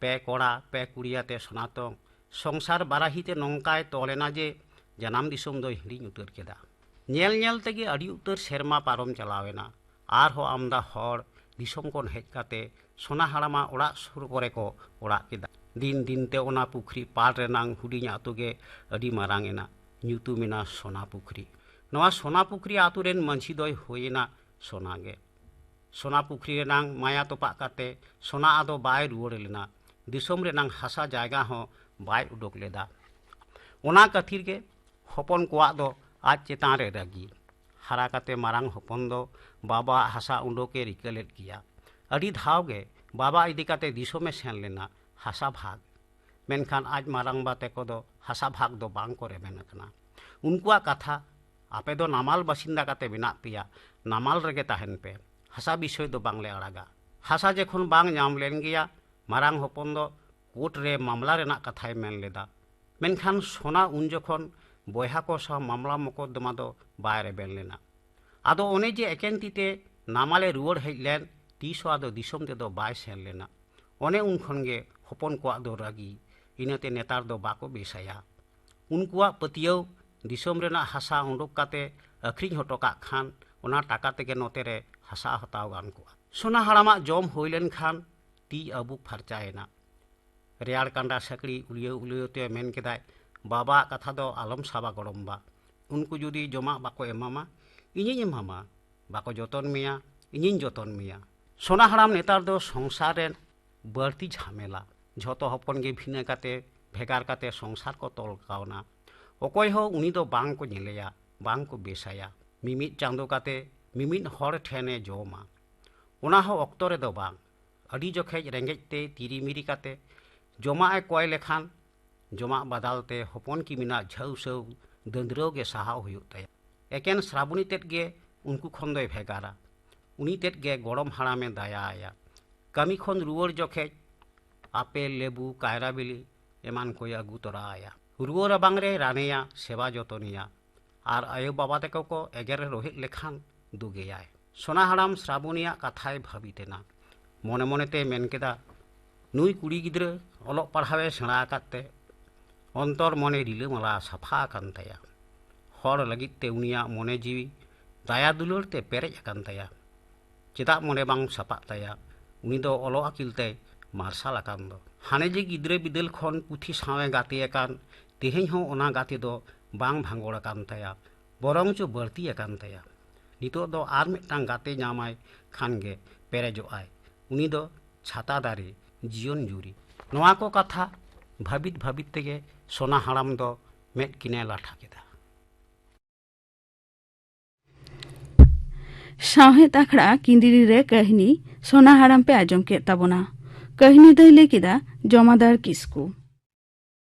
ᱯᱮ ᱠᱚᱲᱟ ᱯᱮ ᱠᱩᱲᱤ ᱟᱛᱮ ᱥᱚᱱᱟᱛᱚᱱ ᱥᱚᱝᱥᱟᱨ ᱵᱟᱨᱟᱦᱤ ᱛᱮ ᱱᱚᱝᱠᱟᱭ ᱛᱚᱞ ᱮᱱᱟ ᱡᱮ ᱡᱟᱱᱟᱢ ᱫᱤᱥᱚᱢ ᱫᱚᱭ ᱦᱤᱲᱤᱧ ᱩᱛᱟᱹᱨ ᱠᱮᱫᱟ ᱧᱮᱞ ᱧᱮᱞ ᱛᱮᱜᱮ ᱟᱹᱰᱤ ᱩᱛᱟᱹᱨ ᱥᱮᱨᱢᱟ ᱯᱟᱨᱚᱢ ᱪᱟᱞᱟᱣ ᱮᱱᱟ ᱟᱨᱦᱚᱸ ᱟᱢᱫᱟ ᱦᱚᱲ ᱫᱤᱥᱚᱢ ᱠᱷᱚᱱ ᱦᱮᱡ ᱠᱟᱛᱮ ᱥᱚᱱᱟ ᱦᱟᱲᱟᱢᱟ ᱚᱲᱟᱜ ᱥᱩᱨ ᱠᱚᱨᱮ ᱠᱚ ᱚᱲᱟᱜ ᱠᱮᱫᱟ ᱫᱤᱱ ᱫᱤᱱ ᱛᱮ ᱚᱱᱟ ᱯᱩᱠᱷᱨᱤ ᱯᱟᱲ ᱨᱮᱱᱟᱝ ᱦᱩᱰᱤᱧ ᱟᱛᱳ ᱜᱮ ᱟᱹᱰᱤ ᱢᱟᱨᱟᱝ ᱮᱱᱟ ᱧᱩᱛᱩᱢ ᱮᱱᱟ ᱥᱚᱱᱟ ᱯᱩᱠᱷᱨᱤ ᱱᱚᱣᱟ ᱥᱚᱱᱟ ᱯᱩᱠᱷᱨᱤ ᱟᱛᱳ ᱨᱮᱱ ᱢᱟᱹᱡᱷᱤ ᱫᱚᱭ ᱦᱩᱭ ᱮᱱᱟ ᱥᱚᱱᱟ ᱜᱮ ᱥᱚᱱᱟ ᱯᱩᱠᱷᱨᱤ ᱨᱮᱱᱟᱝ ᱢᱟᱭᱟ ᱛᱚᱯᱟᱜ ᱠᱟᱛᱮ ᱥᱚᱱᱟ ᱟᱫᱚ ᱵᱟᱭ ᱨᱩᱣᱟᱹᱲ ᱞᱮᱱᱟ ᱫᱤᱥᱚᱢ ᱨᱮᱱᱟᱝ ᱦᱟᱥᱟ ᱡᱟᱭᱜᱟ ᱦᱚᱸ ᱵᱟᱭ ᱩᱰᱩᱠ ᱞᱮᱫᱟ ᱚᱱᱟ ᱠᱷᱟᱹᱛᱤᱨ ᱜᱮ ᱦᱚᱯᱚᱱ ᱠᱚᱣᱟᱜ ᱫᱚ ᱟᱡ ᱪᱮᱛᱟᱱ ᱨᱮ ᱨᱟᱹᱜᱤ ᱦᱟᱨᱟ ᱠᱟᱛᱮ ᱢᱟᱨᱟᱝ ᱦᱚᱯᱚᱱ ᱫᱚ ᱵᱟᱵᱟᱣᱟᱜ ᱦᱟᱥᱟ ᱩᱰᱩᱠ ᱮ ᱨᱤᱠᱟᱹ ᱞᱮᱫ ᱜᱮᱭᱟ ᱟᱹᱰᱤ ᱫᱷᱟᱣ ᱜᱮ ᱵᱟᱵᱟ ᱤᱫᱤ ᱠᱟᱛᱮ ᱫᱤᱥᱚᱢ ᱮ ᱥᱮᱱ ᱞᱮᱱᱟ ᱦᱟᱥᱟ ᱵᱷᱟᱜᱽ ᱢᱮᱱᱠᱷᱟᱱ ᱟᱡ ᱢᱟᱨᱟᱝᱵᱟ ᱛᱮᱠᱚ ᱫᱚ ᱦᱟᱥᱟ ᱵᱷᱟᱜᱽ ᱫᱚ ᱵᱟᱝ ᱠᱚ ᱨᱮᱵᱮᱱ ᱟᱠᱟᱱᱟ ᱩᱱᱠᱩᱣᱟᱜ ᱠᱟᱛᱷᱟ ᱟᱯᱮ ᱫᱚ ᱱᱟᱢᱟᱞ ᱵᱟᱥᱤᱱᱫᱟ ᱠᱟᱛᱮ ᱢᱮᱱᱟᱜ ᱯᱮᱭᱟ ᱱᱟᱢᱟᱞ ᱨᱮᱜᱮ ᱛᱟᱦᱮᱱ ᱯᱮ ᱦᱟᱥᱟ ᱵᱤᱥᱚᱭ ᱫᱚ ᱵᱟᱝᱞᱮ ᱟᱲᱟᱜᱟ ᱦᱟᱥᱟ ᱡᱮᱠᱷᱚᱱ ᱵᱟᱝ ᱧᱟᱢ ᱞᱮᱱ ᱜᱮᱭᱟ ᱢᱟᱨᱟᱝ ᱦᱚᱯᱚᱱ ᱫᱚ ᱠᱳᱨᱴ ᱨᱮ ᱢᱟᱢᱞᱟ ᱨᱮᱱᱟᱜ ᱠᱟᱛᱷᱟᱭ ᱢᱮᱱ ᱞᱮᱫᱟ ᱢᱮᱱᱠᱷᱟᱱ ᱥᱚᱱᱟ ᱩᱱ ᱡᱚᱠᱷᱚᱱ ᱵᱚᱭᱦᱟ ᱠᱚ ᱥᱟᱶ ᱢᱟᱢᱞᱟ ᱢᱚᱠᱚᱫᱫᱚᱢᱟ ᱫᱚ ᱵᱟᱭ ᱨᱮᱵᱮᱱ ᱞᱮᱱᱟ ᱟᱫᱚ ᱚᱱᱮ ᱡᱮ ᱮᱠᱮᱱ ᱛᱤ ᱛᱮ ᱱᱟᱢᱟᱞᱮ ᱨᱩᱣᱟᱹᱲ ᱦᱮᱡ ᱞᱮᱱ ᱛᱤᱥ ᱦᱚᱸ ᱟᱫᱚ ᱫᱤᱥᱚᱢ ᱛᱮᱫᱚ ᱵᱟᱭ ᱥᱮᱱ ᱞᱮᱱᱟ ᱚᱱᱮ ᱩᱱ ᱠᱷᱚᱱ ᱜᱮ ᱦᱚᱯᱚᱱ ᱠᱚᱣᱟᱜ ᱫᱚ ᱨᱟᱹᱜᱤ ᱤᱱᱟᱹᱛᱮ ᱱᱮᱛᱟᱨ ᱫᱚ ᱵᱟᱠᱚ ᱵᱮᱥᱟᱭᱟ ᱩᱱᱠᱩᱣᱟᱜ ᱯᱟᱹᱛᱭᱟᱹᱣ ᱫᱤᱥᱚᱢ ᱨᱮᱱᱟᱜ ᱦᱟᱥᱟ ᱩᱰᱩᱠ ᱠᱟᱛᱮ ᱟᱹᱠᱷᱨᱤᱧ ᱦᱚᱴᱚ ᱠᱟᱜ ᱠᱷᱟᱱ ᱚᱱᱟ ᱴᱟᱠᱟ ᱛᱮᱜᱮ ᱱᱚᱛᱮ ᱨᱮ ᱦᱟᱥᱟ ᱦᱟᱛᱟᱣ ᱜᱟᱱ ᱠᱚᱜᱼᱟ᱾ ᱥᱚᱱᱟ ᱦᱟᱲᱟᱢᱟᱜ ᱡᱚᱢ ᱦᱩᱭ ᱞᱮᱱ ᱠᱷᱟᱱ ᱛᱤ ᱟᱹᱵᱩᱠ ᱯᱷᱟᱨᱪᱟ ᱮᱱᱟ᱾ ᱨᱮᱭᱟᱲ ᱠᱟᱸᱰᱟ ᱥᱟᱹᱠᱲᱤ ᱩᱞᱭᱟᱹᱣ ᱩᱞᱭᱟᱹᱣ ᱛᱮ ᱢᱮᱱ ᱠᱮᱫᱟᱭ, ᱵᱟᱵᱟ ᱟᱜ ᱠᱟᱛᱷᱟ ᱫᱚ ᱟᱞᱚᱢ ᱥᱟᱵᱟ ᱜᱚᱲᱚᱢ ᱵᱟ᱾ ᱩᱱᱠᱩ ᱡᱩᱫᱤ ᱡᱚᱢᱟᱜ ᱵᱟᱠᱚ ᱮᱢᱟᱢᱟ, ᱤᱧᱤᱧ ᱮᱢᱟᱢᱟ᱾ ᱵᱟᱠᱚ ᱡᱚᱛᱚᱱ ᱢᱮᱭᱟ, ᱤᱧᱤᱧ ᱡᱚᱛᱚᱱ ᱢᱮᱭᱟ᱾ ᱥᱚᱱᱟ ᱦᱟᱲᱟᱢ ᱱᱮᱛᱟᱨ ᱫᱚ ᱥᱚᱝᱥᱟᱨ ᱨᱮ ᱵᱟᱹᱲᱛᱤ ᱡᱷᱟᱢᱮᱞᱟ ᱡᱷᱚᱛᱚ ᱦᱚᱯᱚᱱ ᱜᱮ ᱵᱷᱤᱱᱟᱹ ᱠᱟᱛᱮ ᱵᱷᱮᱜᱟᱨ ᱠᱟᱛᱮ ᱥᱚᱝᱥᱟᱨ ᱠᱚ ᱛᱚᱞ ᱠᱟᱣᱱᱟ ᱚᱠᱚᱭ ᱦᱚᱸ ᱩᱱᱤ ᱫᱚ ᱵᱟᱝ ᱠᱚ ᱧᱮᱞᱮᱭᱟ ᱵᱟᱝ ᱠᱚ ᱵᱮᱥᱟᱭᱟ ᱢᱤᱢᱤᱫ ᱪᱟᱸᱫᱚ ᱠᱟᱛᱮ ᱢᱤᱢᱤᱫ ᱦᱚᱲ ᱴᱷᱮᱱ ᱮ ᱡᱚᱢᱟ ᱚᱱᱟ ᱦᱚᱸ ᱚᱠᱛᱚ ᱨᱮᱫᱚ ᱵᱟᱝ ᱟᱹᱰᱤ ᱡᱚᱠᱷᱮᱡ ᱨᱮᱸᱜᱮᱡ ᱛᱮ ᱛᱤᱨᱤ ᱢᱤᱨᱤ ᱠᱟᱛᱮ ᱡᱚᱢᱟᱜ ᱮ ᱠᱚᱭ ᱞᱮᱠᱷᱟᱱ ᱡᱚᱢᱟᱜ ᱵᱟᱫᱟᱞ ᱛᱮ ᱦᱚᱯᱚᱱ ᱠᱤᱢᱤᱱᱟᱜ ᱡᱷᱟᱹᱣ ᱥᱟᱹᱣ ᱫᱟᱹᱫᱽᱨᱟᱹᱣ ᱜᱮ ᱥᱟᱦᱟᱣ ᱦᱩᱭᱩᱜ ᱛᱟᱭᱟ ᱮᱠᱮᱱ ᱥᱨᱟᱵᱚᱱᱤ ᱛᱮᱫ ᱜᱮ ᱩᱱᱠᱩ ᱠᱷᱚᱱ ᱫᱚᱭ ᱵᱷᱮᱜᱟᱨᱟ ᱩᱱᱤ ᱛᱮᱫ ᱜᱮ ᱜᱚᱲᱚᱢ ᱦᱟᱲᱟᱢᱮ ᱫᱟᱭᱟ ᱟᱭᱟ ᱠᱟᱹᱢᱤ ᱠᱷᱚᱱ ᱨᱩᱣᱟᱹᱲ ᱡᱚᱠᱷᱮᱡ ᱟᱯᱮᱞ ᱞᱮᱵᱩ ᱠᱟᱭᱨᱟ ᱵᱤᱞᱤ ᱮᱢᱟᱱ ᱠᱚᱭ ᱟᱹᱜᱩ ᱛᱚᱨᱟ ᱟᱭᱟ ᱨᱩᱣᱟᱹ ᱨᱟᱵᱟᱝ ᱨᱮᱭ ᱨᱟᱱᱮᱭᱟ ᱥᱮᱵᱟ ᱡᱚᱛᱚᱱᱮᱭᱟ ᱟᱨ ᱟᱭᱳ ᱵᱟᱵᱟ ᱛᱮᱠᱚ ᱠᱚ ᱮᱜᱮᱨ ᱨᱚᱦᱮᱫ ᱞᱮᱠᱷᱟᱱ ᱫᱩᱜᱮᱭᱟᱭ ᱥᱚᱱᱟ ᱦᱟᱲᱟᱢ ᱥᱨᱟᱵᱚᱱᱤᱭᱟᱜ ᱠᱟᱛᱷᱟᱭ ᱵᱷᱟᱹᱵᱤᱛ ᱮᱱᱟ ᱢᱚᱱᱮ ᱢᱚᱱᱮᱛᱮ ᱢᱮᱱ ᱠᱮᱫᱟ ᱱᱩᱭ ᱠᱩᱲᱤ ᱜᱤᱫᱽᱨᱟᱹ ᱚᱞᱚᱜ ᱯᱟᱲᱦᱟᱣ ᱮ ᱥᱮᱬᱟ ᱟᱠᱟᱫ ᱛᱮ ᱚᱱᱛᱚᱨ ᱢᱚᱱᱮ ᱨᱤᱞᱟᱹᱢᱟᱞᱟ ᱥᱟᱯᱷᱟ ᱟᱠᱟᱱ ᱛᱟᱭᱟ ᱦᱚᱲ ᱞᱟᱹᱜᱤᱫ ᱛᱮ ᱩᱱᱤᱭᱟᱜ ᱢᱚᱱᱮ ᱡᱤᱣᱤ ᱫᱟᱭᱟ ᱫᱩᱞᱟᱹᱲ ᱛᱮ ᱯᱮᱨᱮᱡ ᱟᱠᱟᱱ ᱛᱟᱭᱟ ᱪᱮᱫᱟᱜ ᱢᱚᱱᱮ ᱵᱟᱝ ᱥᱟᱯᱟᱜ ᱛᱟᱭᱟ ᱩᱱᱤ ᱫᱚ ᱚᱞᱚᱜ ᱟᱹᱠᱤᱞ ᱛᱮᱭ ᱢᱟᱨᱥᱟᱞ ᱟᱠᱟᱱ ᱫᱚ ᱦᱟᱱᱮ ᱡᱮ ᱜᱤᱫᱽᱨᱟᱹ ᱵᱤᱫᱟᱹᱞ ᱠᱷᱚᱱ ᱯᱩᱛᱷᱤ ᱥᱟᱶ ᱮ ᱜᱟᱛᱮ ᱟᱠᱟᱱ ᱛᱮᱦᱮᱧ ᱦᱚᱸ ᱚᱱᱟ ᱜᱟᱛᱮ ᱫᱚ ᱵᱟᱝ ᱵᱷᱟᱸᱜᱚᱲ ᱟᱠᱟᱱ ᱛᱟᱭᱟ ᱵᱚᱨᱚᱝ ᱪᱚ ᱵᱟᱹᱲᱛᱤ ᱟᱠᱟᱱ ᱛᱟᱭᱟ ᱱᱤᱛᱚᱜ ᱫᱚ ᱟᱨ ᱢᱤᱫᱴᱟᱝ ᱜᱟᱛᱮ ᱧᱟᱢᱟᱭ ᱠᱷᱟᱱ ᱜᱮ ᱯᱮᱨᱮᱡᱚᱜ ᱟᱭ ᱩᱱᱤ ᱫᱚ ᱪᱷᱟᱛᱟ ᱫᱟᱨᱮ ᱡᱤᱭᱚᱱ ᱡᱩᱨᱤ ᱱᱚᱣᱟ ᱠᱚ ᱠᱟᱛᱷᱟ ᱵᱷᱟᱹᱵᱤᱛ ᱵᱷᱟᱹᱵᱤᱛ ᱛᱮᱜᱮ ᱥᱚᱱᱟ ᱦᱟᱲᱟᱢ ᱫᱚ ᱢᱮᱫ ᱠᱤᱱᱮ ᱞᱟᱴᱷᱟ ᱠᱮᱫᱟ ᱥᱟᱶᱦᱮᱫ ᱟᱠᱷᱲᱟ ᱠᱤᱸᱫᱤᱨᱤ ᱨᱮ ᱠᱟᱹᱦᱱᱤ ᱥᱚᱱᱟ ᱦᱟᱲᱟᱢ ᱯᱮ ᱟᱸᱡᱚᱢ ᱠᱮᱫ ᱛᱟᱵᱚᱱᱟ ᱠᱟᱹᱦᱱᱤ ᱫᱚᱭ ᱞᱟᱹᱭ ᱠᱮᱫᱟ ᱡᱚᱢᱟᱫᱟᱨ ᱠᱤᱥᱠᱩ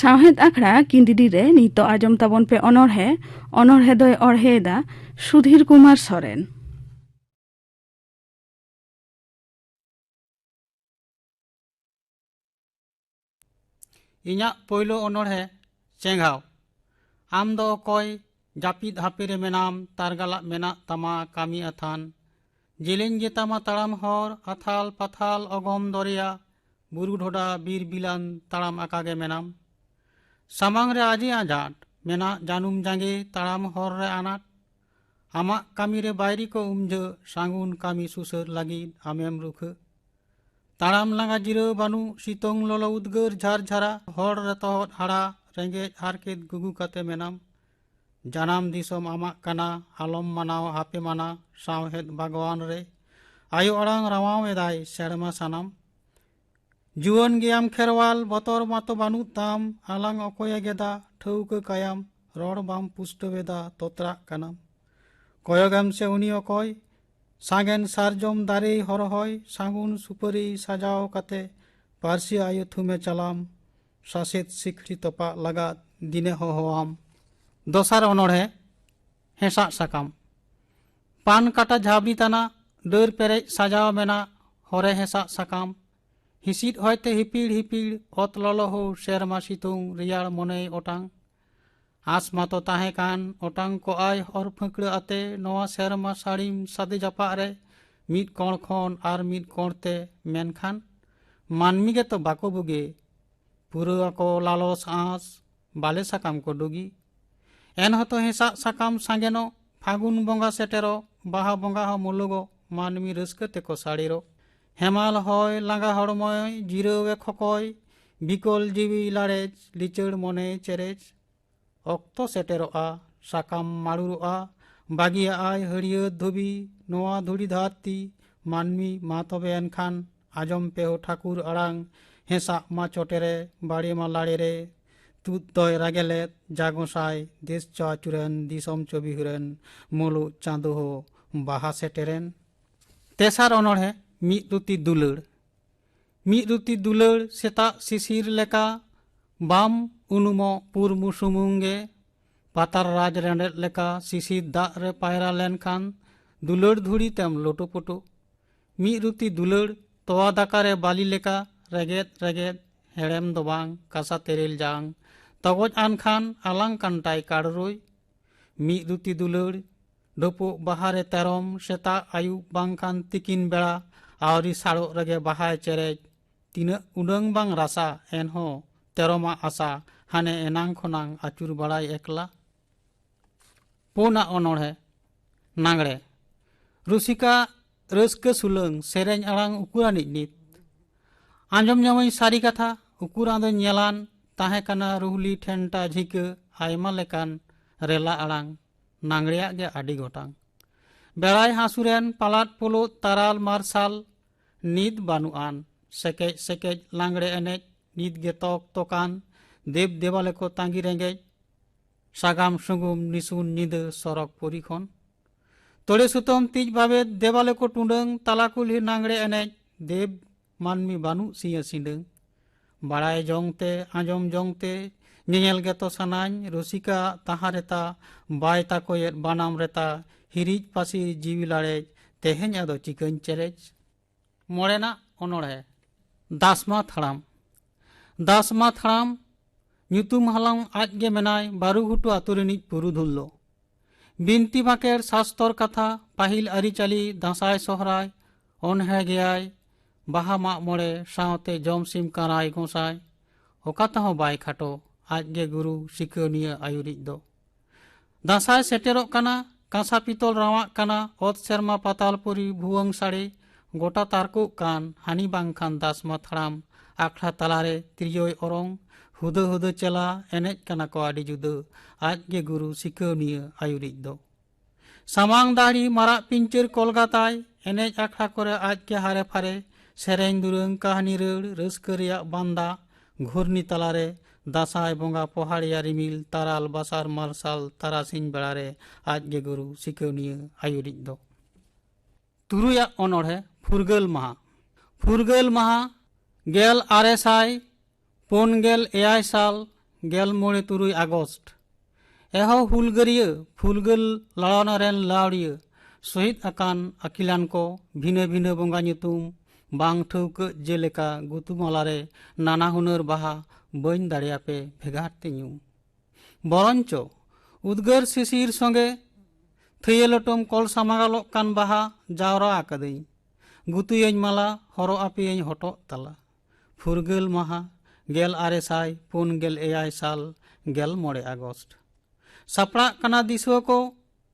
ᱥᱟᱶᱦᱮᱫ ᱟᱠᱷᱲᱟ ᱠᱤᱱᱰᱤᱰᱤ ᱨᱮ ᱱᱤᱛᱚᱜ ᱟᱸᱡᱚᱢ ᱛᱟᱵᱚᱱ ᱯᱮ ᱚᱱᱚᱬᱦᱮ ᱚᱱᱚᱬᱦᱮ ᱫᱚᱭ ᱚᱬᱦᱮᱭᱮᱫᱟ ᱥᱩᱫᱷᱤᱨ ᱠᱩᱢᱟᱨ ᱥᱚᱨᱮᱱ ᱤᱧᱟᱹᱜ ᱯᱳᱭᱞᱳ ᱚᱱᱚᱬᱦᱮ ᱪᱮᱸᱜᱷᱟᱣ ᱟᱢ ᱫᱚ ᱚᱠᱚᱭ ᱡᱟᱹᱯᱤᱫ ᱦᱟᱯᱮ ᱨᱮ ᱢᱮᱱᱟᱢ ᱛᱟᱨᱜᱟᱞᱟᱜ ᱢᱮᱱᱟᱜ ᱛᱟᱢᱟ ᱠᱟᱹᱢᱤ ᱟᱛᱷᱟᱱ ᱡᱮᱞᱮᱧ ᱜᱮᱛᱟᱢᱟ ᱛᱟᱲᱟᱢ ᱦᱚᱨ ᱟᱛᱷᱟᱞ ᱯᱟᱛᱷᱟᱞ ᱚᱜᱚᱢ ᱫᱚᱨᱭᱟ ᱵᱩᱨᱩ ᱰᱷᱚᱰᱟ ᱵᱤᱨ ᱵᱤᱞᱟᱱ ᱛᱟᱲᱟᱢ ᱟᱠᱟᱜᱮ ᱢᱮᱱᱟᱢ ᱥᱟᱢᱟᱝ ᱨᱮ ᱟᱡᱮ ᱟᱸᱡᱟᱴ ᱢᱮᱱᱟᱜ ᱡᱟᱹᱱᱩᱢ ᱡᱟᱸᱜᱮ ᱛᱟᱲᱟᱢ ᱦᱚᱨ ᱨᱮ ᱟᱱᱟᱴ ᱟᱢᱟᱜ ᱠᱟᱹᱢᱤ ᱨᱮ ᱵᱟᱭᱨᱤ ᱠᱚ ᱩᱢᱡᱷᱟᱹ ᱥᱟᱹᱜᱩᱱ ᱠᱟᱹᱢᱤ ᱥᱩᱥᱟᱹᱨ ᱞᱟᱹᱜᱤᱫ ᱟᱢᱮᱢ ᱨᱩᱠᱷᱟᱹ ᱛᱟᱲᱟᱢ ᱞᱟᱸᱜᱟ ᱡᱤᱨᱟᱹᱣ ᱵᱟᱹᱱᱩᱜ ᱥᱤᱛᱩᱝ ᱞᱚᱞᱚ ᱩᱫᱽᱜᱟᱹᱨ ᱡᱷᱟᱨ ᱡᱷᱟᱨᱟ ᱦᱚᱲ ᱨᱮ ᱛᱚᱦᱚᱫ ᱦᱟᱲᱟ ᱨᱮᱸᱜᱮᱡ ᱦᱟᱨᱠᱮᱛ ᱜᱩᱜᱩ ᱠᱟᱛᱮ ᱢᱮᱱᱟᱢ ᱡᱟᱱᱟᱢ ᱫᱤᱥᱚᱢ ᱟᱢᱟᱜ ᱠᱟᱱᱟ ᱟᱞᱚᱢ ᱢᱟᱱᱟᱣ ᱟᱯᱮ ᱢᱟᱱᱟ ᱥᱟᱶᱦᱮᱫ ᱵᱟᱜᱽᱣᱟᱱ ᱨᱮ ᱟᱭᱳ ᱟᱲᱟᱝ ᱨᱟᱣᱟᱣ ᱮᱫᱟᱭ ᱥᱮᱨᱢᱟ ᱥᱟᱱᱟᱢ ᱡᱩᱣᱟᱹᱱ ᱜᱮᱭᱟᱢ ᱠᱷᱮᱨᱣᱟᱞ ᱵᱚᱛᱚᱨ ᱢᱟᱛᱚ ᱵᱟᱹᱱᱩᱜ ᱛᱟᱢ ᱟᱞᱟᱝ ᱚᱠᱚᱭᱮ ᱜᱮᱫᱟ ᱴᱷᱟᱹᱣᱠᱟᱹ ᱠᱟᱭᱟᱢ ᱨᱚᱲ ᱵᱟᱢ ᱯᱩᱥᱴᱟᱹᱣᱮᱫᱟ ᱛᱚᱛᱨᱟᱜ ᱠᱟᱱᱟᱢ ᱠᱚᱭᱚᱜᱮᱢ ᱥᱮ ᱩᱱᱤ ᱚᱠᱚᱭ ᱥᱟᱜᱮᱱ ᱥᱟᱨᱡᱚᱢ ᱫᱟᱨᱮ ᱦᱚᱨᱦᱚᱭ ᱥᱟᱹᱜᱩᱱ ᱥᱩᱯᱟᱹᱨᱤ ᱥᱟᱡᱟᱣ ᱠᱟᱛᱮ ᱯᱟᱹᱨᱥᱤ ᱟᱭᱳ ᱛᱷᱩᱢᱮ ᱪᱟᱞᱟᱢ ᱥᱟᱥᱮᱛ ᱥᱤᱠᱷᱲᱤ ᱛᱚᱯᱟᱜ ᱞᱟᱜᱟᱫ ᱫᱤᱱᱮ ᱦᱚᱦᱚᱣᱟᱢ ᱫᱚᱥᱟᱨ ᱚᱱᱚᱲᱦᱮ ᱦᱮᱸᱥᱟᱜ ᱥᱟᱠᱟᱢ ᱯᱟᱱ ᱠᱟᱴᱟ ᱡᱷᱟᱵᱽᱱᱤ ᱛᱟᱱᱟ ᱰᱟᱹᱨ ᱯᱮᱨᱮᱡ ᱥᱟᱡᱟᱣ ᱢᱮᱱᱟᱜ ᱦᱚᱨᱮ ᱦᱮᱸᱥᱟᱜ ᱥᱟᱠᱟᱢ ᱦᱤᱥᱤᱫ ᱦᱚᱭᱛᱮ ᱦᱤᱯᱤᱲ ᱦᱤᱯᱤᱲ ᱚᱛ ᱞᱚᱞᱚ ᱦᱚ ᱥᱮᱨᱢᱟ ᱥᱤᱛᱩᱝ ᱨᱮᱭᱟᱲ ᱢᱚᱱᱮᱭ ᱚᱴᱟᱝ ᱟᱸᱥ ᱢᱟᱛᱚ ᱛᱟᱦᱮᱸ ᱠᱟᱱ ᱚᱴᱟᱝ ᱠᱚᱜᱼᱟᱭ ᱦᱚᱨ ᱯᱷᱟᱹᱠᱲᱟᱹ ᱟᱛᱮ ᱱᱚᱣᱟ ᱥᱮᱨᱢᱟ ᱥᱟᱹᱲᱤᱢ ᱥᱟᱫᱮ ᱡᱟᱯᱟᱜ ᱨᱮ ᱢᱤᱫ ᱠᱚᱬ ᱠᱷᱚᱱ ᱟᱨ ᱢᱤᱫ ᱠᱚᱬ ᱛᱮ ᱢᱮᱱᱠᱷᱟᱱ ᱢᱟᱹᱱᱢᱤ ᱜᱮᱛᱚ ᱵᱟᱠᱚ ᱵᱩᱜᱮ ᱯᱩᱨᱟᱹᱣ ᱟᱠᱚ ᱞᱟᱞᱚᱥ ᱟᱸᱥ ᱵᱟᱞᱮ ᱥᱟᱠᱟᱢ ᱠᱚ ᱰᱩᱜᱤ ᱮᱱᱦᱚᱛᱚ ᱦᱮᱸᱥᱟᱜ ᱥᱟᱠᱟᱢ ᱥᱟᱸᱜᱮᱱᱚᱜ ᱯᱷᱟᱹᱜᱩᱱ ᱵᱚᱸᱜᱟ ᱥᱮᱴᱮᱨᱚᱜ ᱵᱟᱦᱟ ᱵᱚᱸᱜᱟ ᱦᱚᱸ ᱢᱩᱞᱩᱜᱚᱜ ᱢᱟᱹᱱᱢᱤ ᱨᱟᱹᱥᱠᱟᱹ ᱛᱮᱠᱚ ᱥᱟᱲᱮᱨᱚᱜ ᱦᱮᱢᱟᱞ ᱦᱚᱭ ᱞᱟᱸᱜᱟ ᱦᱚᱲᱢᱚᱭ ᱡᱤᱨᱟᱹᱣ ᱮ ᱠᱷᱚᱠᱚᱭ ᱵᱤᱠᱚᱞ ᱡᱤᱣᱤ ᱞᱟᱲᱮᱡ ᱞᱤᱪᱟᱹᱲ ᱢᱚᱱᱮ ᱪᱮᱨᱮᱡ ᱚᱠᱛᱚ ᱥᱮᱴᱮᱨᱚᱜᱼᱟ ᱥᱟᱠᱟᱢ ᱢᱟᱲᱩᱨᱚᱜᱼᱟ ᱵᱟᱹᱜᱤᱭᱟᱜᱼᱟᱭ ᱦᱟᱹᱨᱭᱟᱹᱲ ᱫᱷᱩᱵᱤ ᱱᱚᱣᱟ ᱫᱷᱩᱲᱤ ᱫᱷᱟᱹᱨᱛᱤ ᱢᱟᱹᱱᱢᱤ ᱢᱟ ᱛᱚᱵᱮ ᱮᱱᱠᱷᱟᱱ ᱟᱸᱡᱚᱢ ᱯᱮ ᱦᱚ ᱴᱷᱟᱹᱠᱩᱨ ᱟᱲᱟᱝ ᱦᱮᱸᱥᱟᱜ ᱢᱟ ᱪᱚᱴᱮᱨᱮ ᱵᱟᱲᱮ ᱢᱟ ᱞᱟᱲᱮᱨᱮ ᱛᱩᱫ ᱫᱚᱭ ᱨᱟᱜᱮᱞᱮᱫ ᱡᱟᱜᱚᱸᱥᱟᱭ ᱫᱮᱥ ᱪᱚ ᱟᱹᱪᱩᱨᱮᱱ ᱫᱤᱥᱚᱢ ᱪᱚ ᱵᱤᱦᱩᱨᱮᱱ ᱢᱩᱞᱩᱜ ᱪᱟᱸᱫᱚ ᱦᱚ ᱵᱟᱦᱟ ᱥᱮᱴᱮᱨᱮᱱ ᱛᱮᱥᱟᱨ ᱚᱱᱚᱬᱦᱮ ᱢᱤᱫ ᱨᱩᱛᱤ ᱫᱩᱞᱟᱹᱲ ᱢᱤᱫ ᱨᱩᱛᱤ ᱫᱩᱞᱟᱹᱲ ᱥᱮᱛᱟᱜ ᱥᱤᱥᱤᱨ ᱞᱮᱠᱟ ᱵᱟᱢ ᱩᱱᱩᱢᱚᱜ ᱯᱩᱨᱢᱩ ᱥᱩᱢᱩᱝ ᱜᱮ ᱯᱟᱛᱟᱨ ᱨᱟᱡᱽ ᱨᱮᱸᱰᱮᱫ ᱞᱮᱠᱟ ᱥᱤᱥᱤᱨ ᱫᱟᱜ ᱨᱮ ᱯᱟᱭᱨᱟ ᱞᱮᱱᱠᱷᱟᱱ ᱫᱩᱞᱟᱹᱲ ᱫᱷᱩᱲᱤ ᱛᱮᱢ ᱞᱳᱴᱳᱯᱳᱴᱳ ᱢᱤᱫ ᱨᱩᱛᱤ ᱫᱩᱞᱟᱹᱲ ᱛᱚᱣᱟ ᱫᱟᱠᱟ ᱨᱮ ᱵᱟᱞᱤ ᱞᱮᱠᱟ ᱨᱮᱜᱮᱫ ᱨᱮᱜᱮᱫ ᱦᱮᱲᱮᱢ ᱫᱚ ᱵᱟᱝ ᱠᱟᱥᱟ ᱛᱮᱨᱮᱞ ᱡᱟᱝ ᱛᱚᱜᱚᱡ ᱟᱱ ᱠᱷᱟᱱ ᱟᱞᱟᱝ ᱠᱟᱱᱴᱟᱭ ᱠᱟᱲᱨᱩᱭ ᱢᱤᱫ ᱨᱩᱛᱤ ᱫᱩᱞᱟᱹᱲ ᱰᱩᱯᱩᱜ ᱵᱟᱦᱟᱨᱮ ᱛᱮᱨᱚᱢ ᱥᱮᱛᱟᱜ ᱟᱹᱭᱩᱵ ᱵᱟᱝᱠᱷᱟᱱ ᱛᱤᱠᱤᱱ ᱵᱮᱲᱟ ᱟᱹᱣᱨᱤ ᱥᱟᱲᱚᱜ ᱨᱮᱜᱮ ᱵᱟᱦᱟᱭ ᱪᱮᱨᱮᱡ ᱛᱤᱱᱟᱹᱜ ᱩᱰᱟᱹᱝ ᱵᱟᱝ ᱨᱟᱥᱟ ᱮᱱᱦᱚᱸ ᱛᱮᱨᱚᱢᱟᱜ ᱟᱥᱟ ᱦᱟᱱᱮ ᱮᱱᱟᱝ ᱠᱷᱚᱱᱟᱝ ᱟᱹᱪᱩᱨ ᱵᱟᱲᱟᱭ ᱮᱠᱞᱟ ᱯᱩᱱᱟᱜ ᱚᱱᱚᱲᱦᱮ ᱱᱟᱜᱽᱲᱮ ᱨᱩᱥᱤᱠᱟ ᱨᱟᱹᱥᱠᱟᱹ ᱥᱩᱞᱟᱹᱝ ᱥᱮᱨᱮᱧ ᱟᱲᱟᱝ ᱩᱠᱩᱨᱟᱱᱤᱡ ᱱᱤᱛ ᱟᱸᱡᱚᱢ ᱧᱟᱢᱟᱹᱧ ᱥᱟᱹᱨᱤ ᱠᱟᱛᱷᱟ ᱩᱠᱩᱨᱟᱱ ᱫᱚ ᱧᱮᱞᱟᱱ ᱛᱟᱦᱮᱸ ᱠᱟᱱᱟ ᱨᱩᱦᱞᱤ ᱴᱷᱮᱱᱴᱟ ᱡᱷᱤᱠᱟᱹ ᱟᱭᱢᱟ ᱞᱮᱠᱟᱱ ᱨᱮᱞᱟ ᱟᱲᱟᱝ ᱱᱟᱝ ᱨᱮᱭᱟᱜ ᱜᱮ ᱟᱹᱰᱤ ᱜᱚᱴᱟᱝ ᱵᱮᱲᱟᱭ ᱦᱟᱹᱥᱩᱨᱮᱱ ᱯᱟᱞᱟᱫ ᱯᱩᱞᱩᱫ ᱛᱟᱨᱟᱞ ᱢᱟᱨᱥᱟᱞ ᱱᱤᱛ ᱵᱟᱹᱱᱩᱜ ᱟᱱ ᱥᱮᱠᱮᱡ ᱥᱮᱠᱮᱡ ᱞᱟᱝᱲᱮ ᱮᱱᱮᱡ ᱱᱤᱛ ᱜᱮ ᱛᱚᱠ ᱛᱚᱠᱟᱱ ᱫᱮᱵ ᱫᱮᱣᱟᱞᱮ ᱠᱚ ᱛᱟᱸᱜᱤ ᱨᱮᱸᱜᱮᱡ ᱥᱟᱜᱟᱢ ᱥᱩᱜᱩᱢ ᱱᱤᱥᱩᱱ ᱧᱤᱫᱟᱹ ᱥᱚᱨᱚᱜᱽ ᱯᱩᱨᱤ ᱠᱷᱚᱱ ᱛᱚᱲᱮ ᱥᱩᱛᱟᱹᱢ ᱛᱤᱡ ᱵᱟᱵᱮᱫ ᱫᱮᱣᱟᱞᱮ ᱠᱚ ᱴᱩᱰᱟᱹᱝ ᱛᱟᱞᱟ ᱠᱩᱞᱦᱤ ᱱᱟᱝᱲᱮ ᱮᱱᱮᱡ ᱫᱮᱵ ᱢᱟᱹᱱᱢᱤ ᱵᱟᱹᱱᱩᱜ ᱥᱤᱭᱟᱹ ᱥᱤᱸᱰᱟᱹᱝ ᱵᱟᱲᱟᱭ ᱡᱚᱝ ᱛᱮ ᱟᱸᱡᱚᱢ ᱡᱚᱝ ᱛᱮ ᱧᱮᱧᱮᱞ ᱜᱮᱛᱚ ᱥᱟᱱᱟᱧ ᱨᱩᱥᱤᱠᱟ ᱛᱟᱦᱟᱸ ᱨᱮᱛᱟ ᱵᱟᱭ ᱛᱟᱠᱚᱭᱮᱫ ᱵᱟᱱᱟᱢ ᱨᱮᱛᱟ ᱦᱤᱨᱤᱡ ᱯᱟᱹᱥᱤᱨ ᱡᱤᱣᱤ ᱞᱟᱲᱮᱡ ᱛᱮᱦᱮᱧ ᱟᱫᱚ ᱪᱤᱠᱟᱹᱧ ᱪᱮᱨᱮᱡ ᱢᱚᱬᱮᱱᱟᱜ ᱚᱱᱚᱲᱦᱮ ᱫᱟᱥᱢᱟ ᱛᱷᱟᱲᱟᱢ ᱫᱟᱥᱢᱟ ᱛᱷᱟᱲᱟᱢ ᱧᱩᱛᱩᱢ ᱦᱟᱞᱟᱝ ᱟᱡ ᱜᱮ ᱢᱮᱱᱟᱭ ᱵᱟᱨᱩᱜᱷᱩᱴᱩ ᱟᱛᱳ ᱨᱤᱱᱤᱡ ᱯᱩᱨᱩᱫᱷᱩᱞ ᱫᱚ ᱵᱤᱱᱛᱤ ᱵᱟᱸᱠᱮᱲ ᱥᱟᱥᱛᱚᱨ ᱠᱟᱛᱷᱟ ᱯᱟᱹᱦᱤᱞ ᱟᱹᱨᱤᱪᱟᱹᱞᱤ ᱫᱟᱸᱥᱟᱭ ᱥᱚᱦᱨᱟᱭ ᱚᱱᱦᱮ ᱜᱮᱭᱟᱭ ᱵᱟᱦᱟ ᱢᱟᱜ ᱢᱚᱬᱮ ᱥᱟᱶᱛᱮ ᱡᱚᱢ ᱥᱤᱢ ᱠᱟᱨᱟᱭ ᱜᱚᱸᱥᱟᱭ ᱚᱠᱟ ᱛᱮᱦᱚᱸ ᱵᱟᱭ ᱠᱷᱟᱴᱚ ᱟᱡᱜᱮ ᱜᱩᱨᱩ ᱥᱤᱠᱟᱹᱣᱱᱤᱭᱟᱹ ᱟᱭᱩᱨᱤᱡ ᱫᱚ ᱫᱟᱸᱥᱟᱭ ᱥᱮᱴᱮᱨᱚᱜ ᱠᱟᱱᱟ ᱠᱟᱸᱥᱟ ᱯᱤᱛᱚᱞ ᱨᱟᱣᱟᱜ ᱠᱟᱱᱟ ᱚᱛ ᱥᱮᱨᱢᱟ ᱯᱟᱛᱟᱞ ᱯᱩᱨᱤ ᱵᱷᱩᱣᱟᱹᱝ ᱥᱟᱲᱮ ᱜᱚᱴᱟ ᱛᱟᱨᱠᱚᱜ ᱠᱟᱱ ᱦᱟᱹᱱᱤ ᱵᱟᱝᱠᱷᱟᱱ ᱫᱟᱥ ᱢᱟᱛᱷᱲᱟᱢ ᱟᱠᱷᱲᱟ ᱛᱟᱞᱟᱨᱮ ᱛᱤᱨᱭᱳᱭ ᱚᱨᱚᱝ ᱦᱩᱫᱟᱹ ᱦᱩᱫᱟᱹ ᱪᱮᱞᱟ ᱮᱱᱮᱡ ᱠᱟᱱᱟ ᱠᱚ ᱟᱹᱰᱤ ᱡᱩᱫᱟᱹ ᱟᱡ ᱜᱮ ᱜᱩᱨᱩ ᱥᱤᱠᱟᱹᱣᱱᱤᱭᱟᱹ ᱟᱹᱭᱩᱨᱤᱡ ᱫᱚ ᱥᱟᱢᱟᱝ ᱫᱟᱲᱤ ᱢᱟᱨᱟᱜ ᱯᱤᱧᱪᱟᱹᱨ ᱠᱚᱞᱜᱟ ᱛᱟᱭ ᱮᱱᱮᱡ ᱟᱠᱷᱲᱟ ᱠᱚᱨᱮ ᱟᱡ ᱜᱮ ᱦᱟᱨᱮ ᱯᱷᱟᱨᱮ ᱥᱮᱨᱮᱧ ᱫᱩᱨᱟᱹᱝ ᱠᱟᱹᱦᱱᱤ ᱨᱟᱹᱲ ᱨᱟᱹᱥᱠᱟᱹ ᱨᱮᱭᱟᱜ ᱵᱟᱱᱫᱟ ᱜᱷᱩᱨᱱᱤ ᱛᱟᱞᱟᱨᱮ ᱫᱟᱥᱟᱭ ᱵᱚᱸᱜᱟ ᱯᱚᱦᱟᱲᱤᱭᱟ ᱨᱤᱢᱤᱞ ᱛᱟᱨᱟᱞ ᱵᱟᱥᱟᱨ ᱢᱟᱨᱥᱟᱞ ᱛᱟᱨᱟᱥᱤᱧ ᱵᱮᱲᱟᱨᱮ ᱟᱡ ᱜᱮ ᱜᱩᱨᱩ ᱥᱤᱠᱟᱹᱣᱱᱤᱭᱟᱹ ᱟᱹᱭᱩᱨᱤᱡ ᱫᱚ ᱛᱩᱨᱩᱭᱟᱜ ᱚᱱᱚᱬᱦᱮ ᱯᱷᱩᱨᱜᱟᱹᱞ ᱢᱟᱦᱟ ᱯᱷᱩᱨᱜᱟᱹᱞ ᱢᱟᱦᱟ ᱜᱮᱞ ᱟᱨᱮ ᱥᱟᱭ ᱯᱩᱱ ᱜᱮᱞ ᱮᱭᱟᱭ ᱥᱟᱞ ᱜᱮᱞ ᱢᱚᱬᱮ ᱛᱩᱨᱩᱭ ᱟᱜᱚᱥᱴ ᱮᱦᱚ ᱦᱩᱞᱜᱟᱹᱨᱤᱭᱟᱹ ᱯᱷᱩᱨᱜᱟᱹᱞ ᱞᱟᱲᱟᱣᱱᱟ ᱨᱮᱱ ᱞᱟᱣᱲᱤᱭᱟᱹ ᱥᱚᱦᱤᱫ ᱟᱠᱟᱱ ᱟᱹᱠᱤᱞᱟᱱ ᱠᱚ ᱵᱷᱤᱱᱟᱹ ᱵᱷᱤᱱᱟᱹ ᱵᱚᱸᱜᱟ ᱧᱩᱛᱩᱢ ᱵᱟᱝ ᱴᱷᱟᱹᱣᱠᱟᱹᱜ ᱡᱮᱞᱮᱠᱟ ᱜᱩᱛᱩᱢᱟᱞᱟ ᱨᱮ ᱱᱟᱱᱟ ᱦᱩᱱᱟᱹᱨ ᱵᱟᱦᱟ ᱵᱟᱹᱧ ᱫᱟᱲᱮᱭᱟᱯᱮ ᱵᱷᱮᱜᱟᱨ ᱛᱮ ᱧᱩᱢ ᱵᱚᱨᱚᱱᱪᱚ ᱩᱫᱽᱜᱟᱹᱨ ᱥᱤᱥᱤᱨ ᱥᱚᱸᱜᱮ ᱛᱷᱟᱹᱭᱟᱹᱞᱚᱴᱚᱢ ᱠᱚᱞ ᱥᱟᱢᱟᱜᱟᱞᱚᱜ ᱠᱟᱱ ᱵᱟᱦᱟ ᱡᱟᱣᱨᱟ ᱟᱠᱟᱫᱟᱹᱧ ᱜᱩᱛᱩᱭᱟᱹᱧ ᱢᱟᱞᱟ ᱦᱚᱨᱚᱜ ᱟᱯᱮᱭᱟᱹᱧ ᱦᱚᱴᱚᱜ ᱛᱟᱞᱟ ᱯᱷᱩᱨᱜᱟᱹᱞ ᱢᱟᱦᱟ ᱜᱮᱞ ᱟᱨᱮ ᱥᱟᱭ ᱯᱩᱱ ᱜᱮᱞ ᱮᱭᱟᱭ ᱥᱟᱞ ᱜᱮᱞ ᱢᱚᱬᱮ ᱟᱜᱚᱥᱴ ᱥᱟᱯᱲᱟᱜ ᱠᱟᱱᱟ ᱫᱤᱥᱩᱣᱟᱹ ᱠᱚ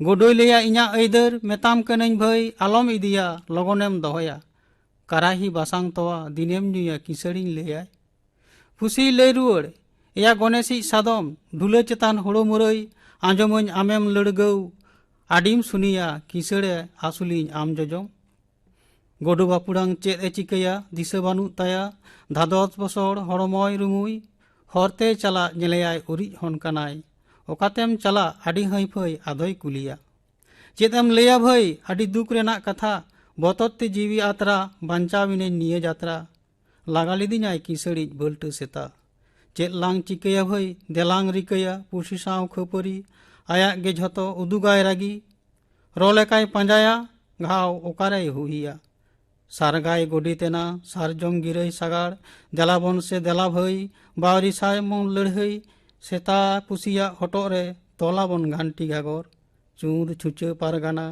ᱜᱩᱰᱩᱭ ᱞᱟᱹᱭᱟ ᱤᱧᱟᱹᱜ ᱟᱹᱭᱫᱟᱹᱨ ᱢᱮᱛᱟᱢ ᱠᱟᱹᱱᱟᱹᱧ ᱵᱷᱟᱹᱭ ᱟᱞᱚᱢ ᱤᱫᱤᱭᱟ ᱞᱚᱜᱚᱱᱮᱢ ᱫᱚᱦᱚᱭᱟ ᱠᱟᱨᱟᱦᱤ ᱵᱟᱥᱟᱝ ᱛᱚᱣᱟ ᱫᱤᱱᱮᱢ ᱧᱩᱭᱟ ᱠᱤᱥᱟᱹᱲᱤᱧ ᱞᱟᱹᱭᱟᱭ ᱯᱩᱥᱤᱭ ᱞᱟᱹᱭ ᱨᱩᱣᱟᱹᱲ ᱮᱭᱟ ᱜᱚᱱᱮᱥᱤᱡ ᱥᱟᱫᱚᱢ ᱰᱷᱩᱞᱟᱹ ᱪᱮᱛᱟᱱ ᱦᱳᱲᱳ ᱢᱩᱨᱟᱹᱭ ᱟᱸᱡᱚᱢᱟᱹᱧ ᱟᱢᱮᱢ ᱞᱟᱹᱲᱜᱟᱹᱣ ᱟᱹᱰᱤᱢ ᱥᱩᱱᱤᱭᱟ ᱠᱤᱥᱟᱹᱲᱮ ᱟᱹᱥᱩᱞᱤᱧ ᱟᱢ ᱡᱚᱡᱚᱢ ᱜᱚᱰᱩ ᱵᱟᱯᱩᱲᱟᱝ ᱪᱮᱫ ᱮ ᱪᱤᱠᱟᱹᱭᱟ ᱫᱤᱥᱟᱹ ᱵᱟᱹᱱᱩᱜ ᱛᱟᱭᱟ ᱫᱷᱟᱫᱚᱥ ᱵᱚᱥᱚᱲ ᱦᱚᱲᱢᱚᱭ ᱨᱩᱢᱩᱭ ᱦᱚᱨᱛᱮ ᱪᱟᱞᱟᱜ ᱧᱮᱞᱮᱭᱟᱭ ᱩᱨᱤᱡ ᱦᱚᱱ ᱠᱟᱱᱟᱭ ᱚᱠᱟᱛᱮᱢ ᱪᱟᱞᱟᱜ ᱟᱹᱰᱤ ᱦᱟᱹᱭᱯᱷᱟᱹᱭ ᱟᱫᱚᱭ ᱠᱩᱞᱤᱭᱟ ᱪᱮᱫ ᱮᱢ ᱞᱟᱹᱭᱟ ᱵᱷᱟᱹᱭ ᱟᱹᱰᱤ ᱫᱩᱠ ᱨᱮᱱᱟᱜ ᱠᱟᱛᱷᱟ ᱵᱚᱛᱚᱨ ᱛᱮ ᱡᱤᱣᱤ ᱟᱛᱨᱟ ᱵᱟᱧᱪᱟᱣᱤᱱᱟᱹᱧ ᱱᱤᱭᱟᱹ ᱡᱟᱛᱨᱟ ᱞᱟᱜᱟ ᱞᱤᱫᱤᱧᱟᱭ ᱠᱤᱥᱟᱹᱲᱤᱡ ᱵᱟᱹᱞᱴᱟᱹ ᱥᱮᱛᱟ ᱪᱮᱫ ᱞᱟᱝ ᱪᱤᱠᱟᱹᱭᱟ ᱵᱷᱟᱹᱭ ᱫᱮᱞᱟᱝ ᱨᱤᱠᱟᱹᱭᱟ ᱯᱩᱥᱤ ᱥᱟᱶ ᱠᱷᱟᱹᱯᱟᱹᱨᱤ ᱟᱭᱟᱜ ᱜᱮ ᱡᱷᱚᱛᱚ ᱩᱫᱩᱜᱟᱭ ᱨᱟᱹᱜᱤ ᱨᱚ ᱞᱮᱠᱟᱭ ᱯᱟᱸᱡᱟᱭᱟ ᱜᱷᱟᱣ ᱚᱠᱟᱨᱮᱭ ᱦᱩᱭᱟ ᱥᱟᱨᱜᱟᱭ ᱜᱚᱰᱤᱛᱮᱱᱟ ᱥᱟᱨᱡᱚᱢ ᱜᱤᱨᱟᱹᱭ ᱥᱟᱜᱟᱲ ᱫᱮᱞᱟᱵᱚᱱ ᱥᱮ ᱫᱮᱞᱟ ᱵᱷᱟᱹᱭ ᱵᱟᱣᱨᱤ ᱥᱟᱭ ᱢᱚᱱ ᱞᱟᱹᱲᱦᱟᱹᱭ ᱥᱮᱛᱟ ᱯᱩᱥᱤᱭᱟᱜ ᱦᱚᱴᱚᱜ ᱨᱮ ᱛᱚᱞᱟᱵᱚᱱ ᱜᱷᱟᱱᱴᱤ ᱜᱷᱟᱜᱚᱨ ᱪᱩᱨ ᱪᱷᱩᱪᱟᱹ ᱯᱟᱨᱜᱟᱱᱟ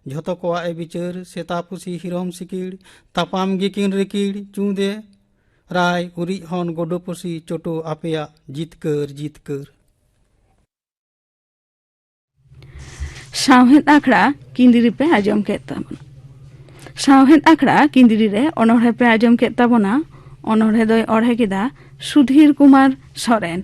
ᱡᱷᱚᱛᱚ ᱠᱚᱣᱟᱜ ᱮ ᱵᱤᱪᱟᱹᱨ ᱥᱮᱛᱟ ᱯᱩᱥᱤ ᱦᱤᱨᱚᱢ ᱥᱤᱠᱤᱲ ᱛᱟᱯᱟᱢ ᱜᱮᱠᱤᱱ ᱨᱤᱠᱤᱲ ᱪᱩᱸᱫᱮ ᱨᱟᱭ ᱩᱨᱤᱡ ᱦᱚᱱ ᱜᱚᱰᱚ ᱯᱩᱥᱤ ᱪᱚᱴᱚ ᱟᱯᱮᱭᱟᱜ ᱡᱤᱛᱠᱟᱹᱨ ᱡᱤᱛᱠᱟᱹᱨ ᱥᱟᱶᱦᱮᱫ ᱟᱠᱷᱲᱟ ᱠᱤᱸᱫᱤᱨᱤ ᱯᱮ ᱟᱸᱡᱚᱢ ᱠᱮᱫ ᱛᱟᱵᱚᱱᱟ ᱥᱟᱶᱦᱮᱫ ᱟᱠᱷᱲᱟ ᱠᱤᱸᱫᱤᱨᱤ ᱨᱮ ᱚᱱᱚᱬᱦᱮ ᱯᱮ ᱟᱸᱡᱚᱢ ᱠᱮᱫ ᱛᱟᱵᱚᱱᱟ ᱚᱱᱚᱬᱦᱮ ᱫᱚᱭ ᱚᱬᱦᱮ ᱠᱮᱫᱟ ᱥᱩᱫᱷᱤᱨ ᱠᱩᱢᱟᱨ ᱥᱚᱨᱮᱱ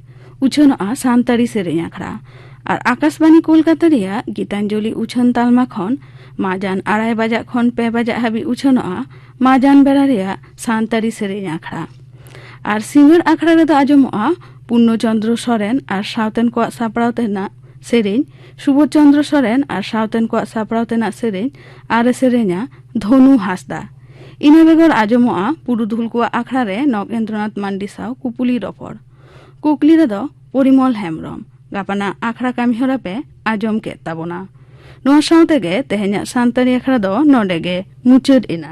ᱩᱪᱷᱟᱹᱱᱚᱜᱼᱟ ᱥᱟᱱᱛᱟᱲᱤ ᱥᱮᱨᱮᱧ ᱟᱠᱷᱲᱟ ᱟᱨ ᱟᱠᱟᱥᱵᱟণᱤ ᱠᱳᱞᱠᱟᱛᱟ ᱨᱮᱭᱟᱜ ᱜᱤᱛᱟᱧᱡᱚᱞᱤ ᱩᱪᱷᱟᱹᱱ ᱛᱟᱞᱢᱟ ᱠᱷᱚᱱ ᱢᱟᱡᱟᱱ ᱟᱲᱟᱭ ᱵᱟᱡᱟᱜ ᱠᱷᱚᱱ ᱯᱮ ᱵᱟᱡᱟᱜ ᱦᱟᱹᱵᱤᱡ ᱩᱪᱷᱟᱹᱱᱚᱜᱼᱟ ᱢᱟᱡᱟᱱ ᱵᱮᱲᱟ ᱨᱮᱭᱟᱜ ᱥᱟᱱᱛᱟᱲᱤ ᱥᱮᱨᱮᱧ ᱟᱠᱷᱲᱟ ᱟᱨ ᱥᱤᱸᱜᱟᱹᱲ ᱟᱠᱷᱲᱟ ᱨᱮᱫᱚ ᱟᱸᱡᱚᱢᱚᱜᱼᱟ ᱯᱩᱨᱱᱚ ᱪᱚᱱᱫᱨᱚ ᱥᱚᱨᱮᱱ ᱟᱨ ᱥᱟᱶᱛᱮᱱ ᱠᱚᱣᱟᱜ ᱥᱟᱯᱲᱟᱣ ᱛᱮᱱᱟᱜ ᱥᱮᱨᱮᱧ ᱥᱩᱵᱳᱫᱷ ᱪᱚᱱᱫᱨᱚ ᱥᱚᱨᱮᱱ ᱟᱨ ᱥᱟᱶᱛᱮᱱ ᱠᱚᱣᱟᱜ ᱥᱟᱯᱲᱟᱣ ᱛᱮᱱᱟᱜ ᱥᱮᱨᱮᱧ ᱟᱨ ᱥᱮᱨᱮᱧᱟ ᱫᱷᱚᱱᱩ ᱦᱟᱸᱥᱫᱟ ᱤᱱᱟᱹ ᱵᱮᱜᱚᱨ ᱟᱸᱡᱚᱢᱚᱜᱼᱟ ᱯᱩᱨᱩᱫᱷᱩᱞ ᱠᱚᱣᱟᱜ ᱟᱠᱷᱲᱟ ᱨᱮ ᱱᱚᱜᱮᱱᱫᱨᱚᱱᱟᱛᱷ ᱢᱟᱱᱰᱤ ᱥᱟᱶ ᱠᱩᱯᱩᱞᱤ ᱨᱚᱯᱚᱲ ᱠᱩᱠᱞᱤ ᱨᱮᱫᱚ ᱯᱚᱨᱤᱢᱚᱞ ᱦᱮᱢᱵᱨᱚᱢ ᱜᱟᱯᱟᱱᱟᱜ ᱟᱠᱷᱲᱟ ᱠᱟᱹᱢᱤᱦᱚᱨᱟ ᱯᱮ ᱟᱸᱡᱚᱢ ᱠᱮᱫ ᱛᱟᱵᱚᱱᱟ ᱱᱚᱣᱟ ᱥᱟᱶ ᱛᱮᱜᱮ ᱛᱮᱦᱮᱧᱟᱜ ᱥᱟᱱᱛᱟᱲᱤ ᱟᱠᱷᱲᱟ ᱫᱚ ᱱᱚᱰᱮ ᱜᱮ ᱢᱩᱪᱟᱹᱫ ᱮᱱᱟ